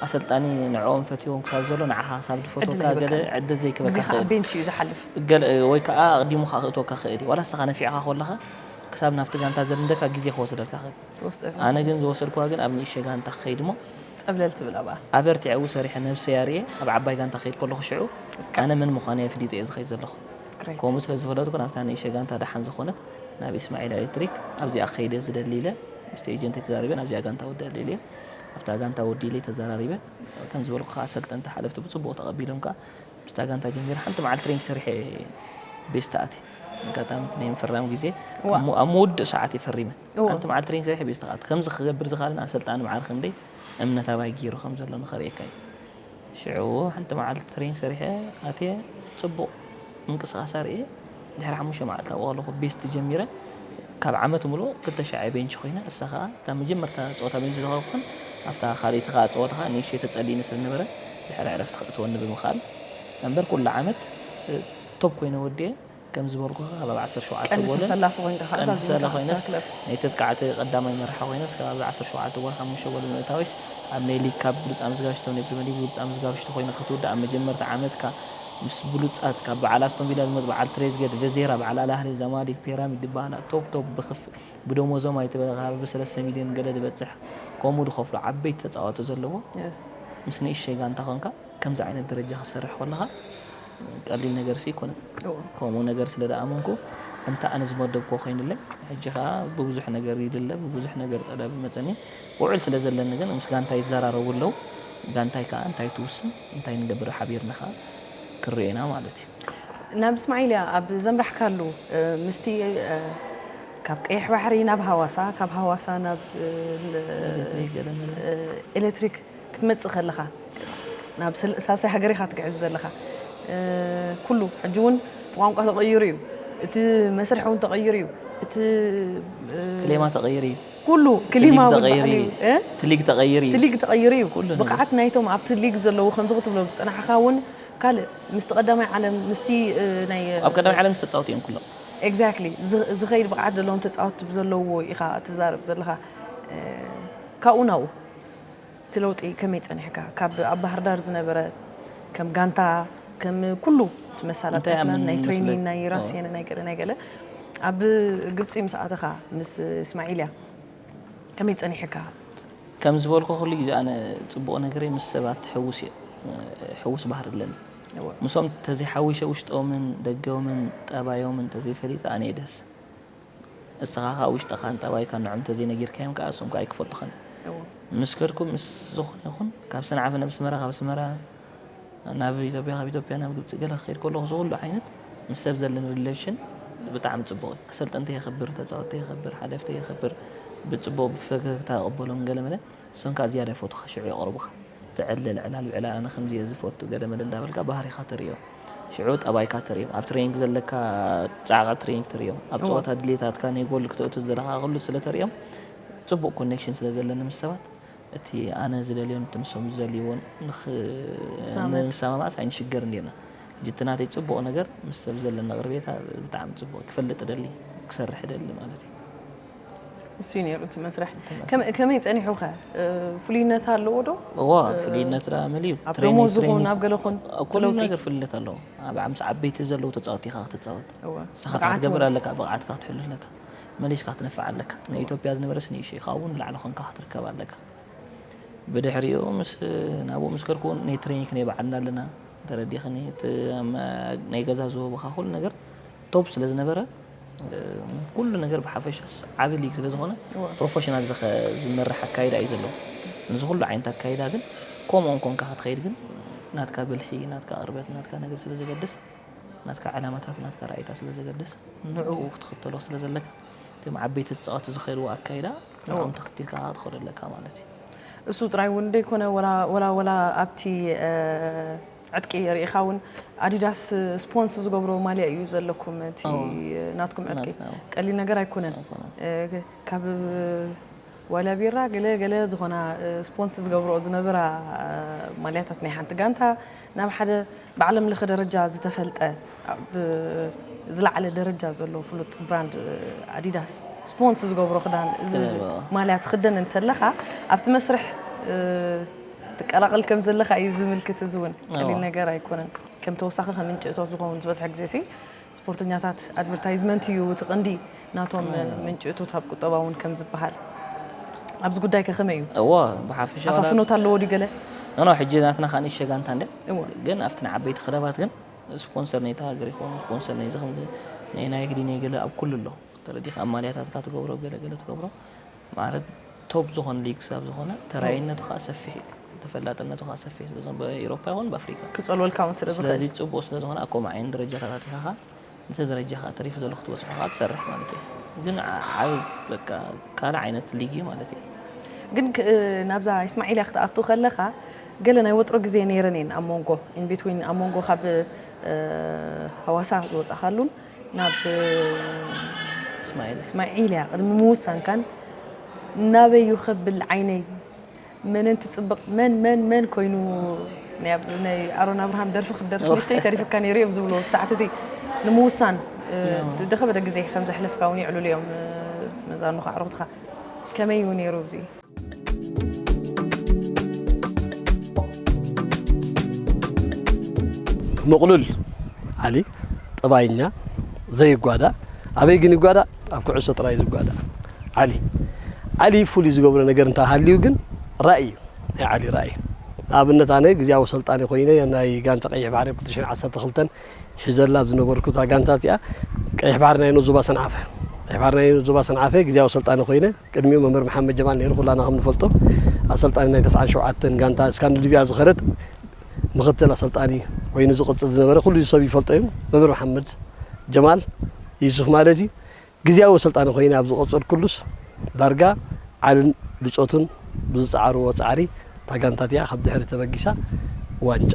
ኣሰልጣኒ ንዕኦም ፈትዎም ክሳብ ዘሎ ንዓኻ ክሳብ ድፈትወካ ገለ ዕድል ዘይክበካ ክእል ቤንች እዩ ዝሓልፍ ወይ ከዓ ኣቕዲሙ ክኣ ክእትወካ ክእል እዩ ዋላ ንስኻ ነፊዕኻ ኮለኻ ክሳብ ናብቲ ጋንታ ዘልምደካ ግዜ ክወስደልካ ክእል ኣነ ግን ዝወሰድክዋ ግን ኣብ ንእሽተይ ጋንታ ክኸይድ እሞ ጸብለል ትብል ኣብኣ ኣበርቲዐ ኣብኡ ሰሪሐ ነብሰይ ኣርእየ ኣብ ዓባይ ጋንታ ክኸይድ ከለኹ ሽዑ ኣነ መን ምዃነይ ኣፍሊጠ እየ ዝኸይድ ዘለኹ ከምኡ ስለ ዝፈለጥኩ ናብታ ንእሽተይ ጋንታ ደሓን ዝኾነት ናብ ኢስማዒል ኤሌክትሪክ ኣብዚኣ ክኸይድ እየ ዝደሊ ኢለ ምስቲ ኤጀንተይ ተዛሪበ ናብዚኣ ጋንታ ውድእ ደልየ ኣብታ ጋንታ ወዲ ኢለይ ተዘራሪበ ከም ዝበልኩ ከዓ ኣሰልጠንቲ ሓለፍቲ ብፅቡቅ ተቐቢሎም ከዓ ምስታ ጋንታ ጀሚረ ሓንቲ መዓልቲ ትሬኒንግ ሰሪሐ ቤስታ ኣትየ ኣጋጣሚ ናይ ምፍራም ግዜ ኣብ ምውድእ ሰዓት እየ ፈሪመ ኣብቲ መዓልቲ ትሬኒንግ ሰሪሐ ቤት ተኻት ከምዚ ክገብር ዝኻልን ኣሰልጣኒ መዓር ክንደይ እምነት ኣባይ ገይሩ ከም ዘሎ ንኸርእየካ እዩ ሽዑ ሓንቲ መዓልቲ ትሬኒንግ ሰሪሐ ኣትየ ፅቡቕ ምንቅስቓስ ኣርእየ ድሕሪ ሓሙሽተ መዓልቲ ኣብኡ ኣለኹ ቤስት ጀሚረ ካብ ዓመት ሙሉእ ክልተ ሻዕ ቤንች ኮይነ እሳ ከዓ እታ መጀመርታ ፀወታ ቤንች ዝኸኩን ኣብታ ካልእቲ ከዓ ፀወታ ከዓ ንእሽተይ ተፀሊኒ ስለዝነበረ ድሕሪ ዕረፍቲ ከእትወኒ ብምኽኣል እምበር ኩሉ ዓመት ቶብ ኮይነ ወዲየ ከም ዝበልኩኻ ከባቢ ዓሰርተ ሸውዓተ ቀንዲ ጎልን ተሰላፊ ኮይንካ ከኣ ቀንዲ ተሰላፊ ዛዚምካ እታ ኮይነስ ክለብ ናይ ተጥቃዕቲ ቀዳማይ መራሒ ኮይነስ ከባቢ ዓሰርተ ሸውዓተ ጎል ሓሙሽተ ጎል ብምእታዊስ ኣብ ናይ ሊግ ካብ ብሉጽ ኣምዝጋሽቶ ናይ ፕሪመር ሊግ ብሉጽ ኣምዝጋብሽቶ ኮይንካ ክትውዳእ ኣብ መጀመርታ ዓመትካ ምስ ብሉጻት ካብ በዓል ኣስቶን ቪላ ዝመጹ በዓል ትሬዝገድ ቨዜራ በዓል ኣል ኣህሊ ዛማሊክ ፒራሚድ ድባላ ቶፕ ቶፕ ብክፍ ብደሞዞም ኣይትበል ከባቢ ሰለስተ ሚልዮን ገለ ድበጽሕ ከምኡ ድከፍሉ ዓበይቲ ተጻወቲ ዘለዎ Yes። ምስ ንእሽተይ ጋንታ ኮንካ ከምዚ ዓይነት ደረጃ ክትሰርሕ ኮለኻ ቀሊል ነገርሲ ኣይኮነን። ከምኡ ነገር ስለ ዝኣመንኩ ከምቲ ኣነ ዝመደብክዎ ኮይኑለይ ሕጂ ከኣ ብብዙሕ ነገር ይድለ ብብዙሕ ነገር ጠለብ ይመጸኒ ውዕል ስለ ዘለኒ ግን ምስ ጋንታይ ይዘራረቡ ኣለዉ ጋንታይ ከኣ እንታይ ትውስን እንታይ ንገብር ሓቢርና ከኣ ክንሪኦ ኢና ማለት እዩ። ናብ እስማዒልያ ኣብ ዘምራሕካሉ ምስቲ ካብ ቀይሕ ባሕሪ ናብ ሃዋሳ ካብ ሃዋሳ ናብ ኤለትሪክ ክትመጽእ ከለኻ ናብ ሳልሳይ ሃገር ኢኻ ትግዕዝ ዘለኻ ኩሉ ሕጂ ውን እቲ ቋንቋ ተቐይሩ እዩ እቲ መስርሕ ውን ተቐይሩ እዩ እቲ ክሌማ ተቐይሩ እዩ ኩሉ ክሊማ ትሊግ ተቐይሩ እዩ ትሊግ ተቐይሩ እዩ ብቕዓት ናይቶም ኣብቲ ሊግ ዘለዉ ከምዚ ክትብሎ ዝፅናሕኻ እውን ካልእ ምስቲ ቀዳማይ ዓለም ምስቲ ናይ ኣብ ቀዳማይ ዓለም ዝተፃወቱ እዮም ኩሎም ኤግዛክትሊ ዝኸይድ ብቕዓት ዘለዎም ተፃወቲ ብዘለውዎ ኢኻ ትዛረብ ዘለኻ ካብኡ ናብኡ እቲ ለውጢ ከመይ ጸኒሕካ ካብ ኣብ ባህርዳር ዝነበረ ከም ጋንታ ከም ኩሉ መሳላጥያትና ናይ ትሬኒን ናይ ራስየን ናይ ገለ ናይ ገለ ኣብ ግብፂ ምስ ኣተኻ ምስ እስማዒልያ ከመይ ጸኒሕካ ከም ዝበልኩ ኩሉ ግዜ ኣነ ጽቡቕ ነገረይ ምስ ሰባት ሕውስ እየ ሕውስ ባህር ኣለኒ ምሶም ተዘይሓዊሸ ውሽጦምን ደገምን ጠባዮምን ተዘይፈሊጠ ኣነ ደስ እስኻ ኻብ ውሽጥኻ ንጠባይካ ንዖም ተዘይነጊርካዮም ከኣ እሶም ከኣ ኣይክፈልጡኻን ምስ ከድኩም ምስ ዝኾነ ይኹን ካብ ሰንዓፈ ናብ ኣስመራ ካብ ኣስመራ ናብ ኢትዮጵያ ካብ ኢትዮጵያ ናብ ግብጺ ገለ ክኸይድ ከለኹ እዚ ኩሉ ዓይነት ምስ ሰብ ዘለኒ ሪሌሽን ብጣዕሚ ጽቡቕ እዩ ኣሰልጠንተይ የኸብር ተጻወተይ የኸብር ሓለፍተይ የኸብር ብጽቡቕ ብፈገግታ እቕበሎም ገለ መለ ሰንካኣ ዝያዳ ይፈትውኻ ሽዑ የቕርቡኻ ትዕለል ዕላል ብዕላል ኣነ ከምዚ እየ ዝፈቱ ገለ መለ እንዳበልካ ባህሪኻ ተርእዮም ሽዑ ጠባይካ ተርእዮም ኣብ ትሬኒንግ ዘለካ ጻዕቂ ትሬኒንግ ተርእዮም ኣብ ጸወታ ድሌታትካ ናይ ጎል ክተእቱ ዝደለኻ ክሉ ስለ ተርእዮም ጽቡቕ ኮኔክሽን ስለ ዘለኒ ምስ ሰባት እቲ ኣነ ዝደልዮን እቲ ንሶም ዝደልይዎን ንሰማማዕስ ኣይንሽገርን ጌና ሕጂ እቲ ናተይ ፅቡቕ ነገር ምስ ሰብ ዘለኒ ቅርቤታ ብጣዕሚ ፅቡቕ ክፈልጥ ደሊ ክሰርሕ ደሊ ማለት እዩ እሱ ነሩ እቲ መስርሕ ከመይ ፀኒሑ ከ ፍሉይነት ኣለዎ ዶ እዋ ፍሉይነት ዳ መሊዩ ኣብ ደሞዝ ይኹን ኣብ ገለ ኹን ኩሉ ነገር ፍልነት ኣለዎ ኣብ ምስ ዓበይቲ ዘለዉ ተፃወቲ ኢኻ ክትፃወት ንስኻ ከዓ ትገብር ኣለካ ብቕዓትካ ክትሕሉ ኣለካ መሊስካ ክትነፍዕ ኣለካ ንኢትዮጵያ ዝነበረ ስኒ እሺ ካብኡ ንላዕሊ ኮንካ ክትርከብ ኣለካ ብድሕሪኡ ምስ ናብኡ ምስ ከድኩ ናይ ትሬኒክ ናይ በዓልና ኣለና ተረዲኽኒ ናይ ገዛ ዝህቡኻ ኩሉ ነገር ቶፕ ስለ ዝነበረ ኩሉ ነገር ብሓፈሻስ ዓቢ ሊግ ስለ ዝኾነ ፕሮፌሽናል ዝመርሕ ኣካይዳ እዩ ዘለዎ ንዚ ኩሉ ዓይነት ኣካይዳ ግን ከምኡ እንኮንካ ክትኸይድ ግን ናትካ ብልሒ ናትካ ቅርበት ናትካ ነገር ስለ ዘገድስ ናትካ ዕላማታት ናትካ ራእይታት ስለ ዘገድስ ንዕኡ ክትኽተሎ ስለ ዘለካ እቶም ዓበይቲ ተፃወቲ ዝኸይድዎ ኣካይዳ ንዕኦም ተኽቲልካ ክትኸዶ ኣለካ ማለት እዩ እሱ ጥራይ እውን ዘይኮነ ወላ ወላ ኣብቲ ዕጥቂ ሪኢኻ ውን ኣዲዳስ ስፖንስ ዝገብሮ ማልያ ኢዩ ዘለኩም እቲ ናትኩም ዕጥቂ ቀሊል ነገር ኣይኮነን ካብ ዋልያ ቢራ ገለ ገለ ዝኾና ስፖንስ ዝገብሮ ዝነበራ ማልያታት ናይ ሓንቲ ጋንታ ናብ ሓደ ብዓለም ለኸ ደረጃ ዝተፈልጠ ኣብ ዝለዓለ ደረጃ ዘሎ ፍሉጥ ብራንድ ኣዲዳስ ስፖንስ ዝገብሮ ክዳን እዚ ማልያ ትኽደን እንተለኻ ኣብቲ መስርሕ ትቀላቐል ከም ዘለኻ እዩ ዝምልክት። እዚ እውን ቀሊል ነገር ኣይኮነን። ከም ተወሳኺ ከም ምንጪ እቶት ዝኸውን ዝበዝሐ ግዜ ሲ ስፖርተኛታት ኣድቨርታይዝመንት እዩ እቲ ቀንዲ ናቶም ምንጪ እቶት ኣብ ቁጠባ እውን ከም ዝበሃል ኣብዚ ጉዳይ ከ ከመይ እዩ? እዎ ብሓፈሻ ኣፋፍኖት ኣለዎ ድዩ ገለ? ኖ ሕጂ ናትና ከኣ ንእሽተይ ጋንታ እንድያ ግን ኣብቲ ንዓበይቲ ክለባት ግን ስፖንሰር ናይታ ሃገር ይከውን ስፖንሰር ናይዚ ከምዚ ናይ ናይግዲ ናይ ገለ ኣብ ኩሉ ኣሎ ተረዲካ ኣብ ማልያታትካ ትገብሮ ገለ ገለ ትገብሮ ማለት ቶፕ ዝኾነ ሊግ ክሳብ ዝኾነ ተራይነቱ ከዓ ሰፊሕ እዩ ተፈላጥነቱ ከዓ ሰፊሕ ስለ ዝኾነ ብኤሮፓ ይኹን ብኣፍሪካ ክጸልወልካ እውን ስለ ዝኽእል ስለዚ ጽቡቅ ስለ ዝኾነ ኣብ ከምኡ ዓይነት ደረጃታት ኣቲኻ ከዓ ነቲ ደረጃ ከዓ ተሪፉ ዘሎ ክትበጽሖ ከዓ ትሰርሕ ማለት እዩ ግን ዓብ በቃ ካልእ ዓይነት ሊግ እዩ ማለት እዩ ግን ናብዛ ኢስማዒልያ ክትኣቱ ከለኻ ገለ ናይ ወጥሮ ግዜ ነይረን እየን ኣብ ሞንጎ in between ኣብ ሞንጎ ካብ ሃዋሳ ዝወጻኻሉን ናብ እስማኤል እስማኤል እያ ቅድሚ ምውሳንካን ናበይ እዩ ከብል ዓይነይ መንን ትጽብቕ መን መን መን ኮይኑ ናይ ኣሮን ኣብርሃም ደርፊ ክትደርፊ ንሽተይ ተሪፍካ ነይሩ እዮም ዝብሉ ሰዓት እቲ ንምውሳን ደኸበደ ግዜ ከም ዘሕለፍካ እውን ይዕልሉ እዮም መዛኑኻ ኣዕሩኽትኻ ከመይ እዩ ነይሩ እዚ ምቕሉል ዓሊ ጠባይኛ ዘይጓዳእ ኣበይ ግን ይጓዳእ ኣብ ኩዕሶ ጥራይ ዝጓዳእ ዓሊ ዓሊ ፍሉይ ዝገብሮ ነገር እንታ ሃልዩ ግን ራእይ እዩ ናይ ዓሊ ራእይ ንኣብነት ኣነ ግዜያዊ ሰልጣኒ ኮይነ ናይ ጋንታ ቀይሕ ባሕሪ ኣብ 212 ሒዘላ ኣብ ዝነበርኩ እታ ጋንታ እዚኣ ቀይሕ ባሕሪ ናይ ዞባ ሰንዓፈ ቀይሕ ባሕሪ ናይ ዞባ ሰንዓፈ ግዜያዊ ሰልጣኒ ኮይነ ቅድሚኡ መምህር መሓመድ ጀማል ነይሩ፣ ኩላና ከም ንፈልጦ ኣሰልጣኒ ናይ ተስዓን ሸውዓተን ጋንታ እስካንድንቪያ ዝኸደት ምኽትል ኣሰልጣኒ ኮይኑ ዝቕጽል ዝነበረ ኩሉ ሰብ ይፈልጦ እዩ። መምህር መሓመድ ጀማል ዩሱፍ ማለት እዩ። ግዝያዊ ኣሰልጣኒ ኮይነ ኣብ ዝቐጸልኩሉስ ዳርጋ ዓልን ብጾቱን ብዝጸዓርዎ ጻዕሪ እታ ጋንታ እቲኣ ካብ ድሕሪ ተበጊሳ ዋንጫ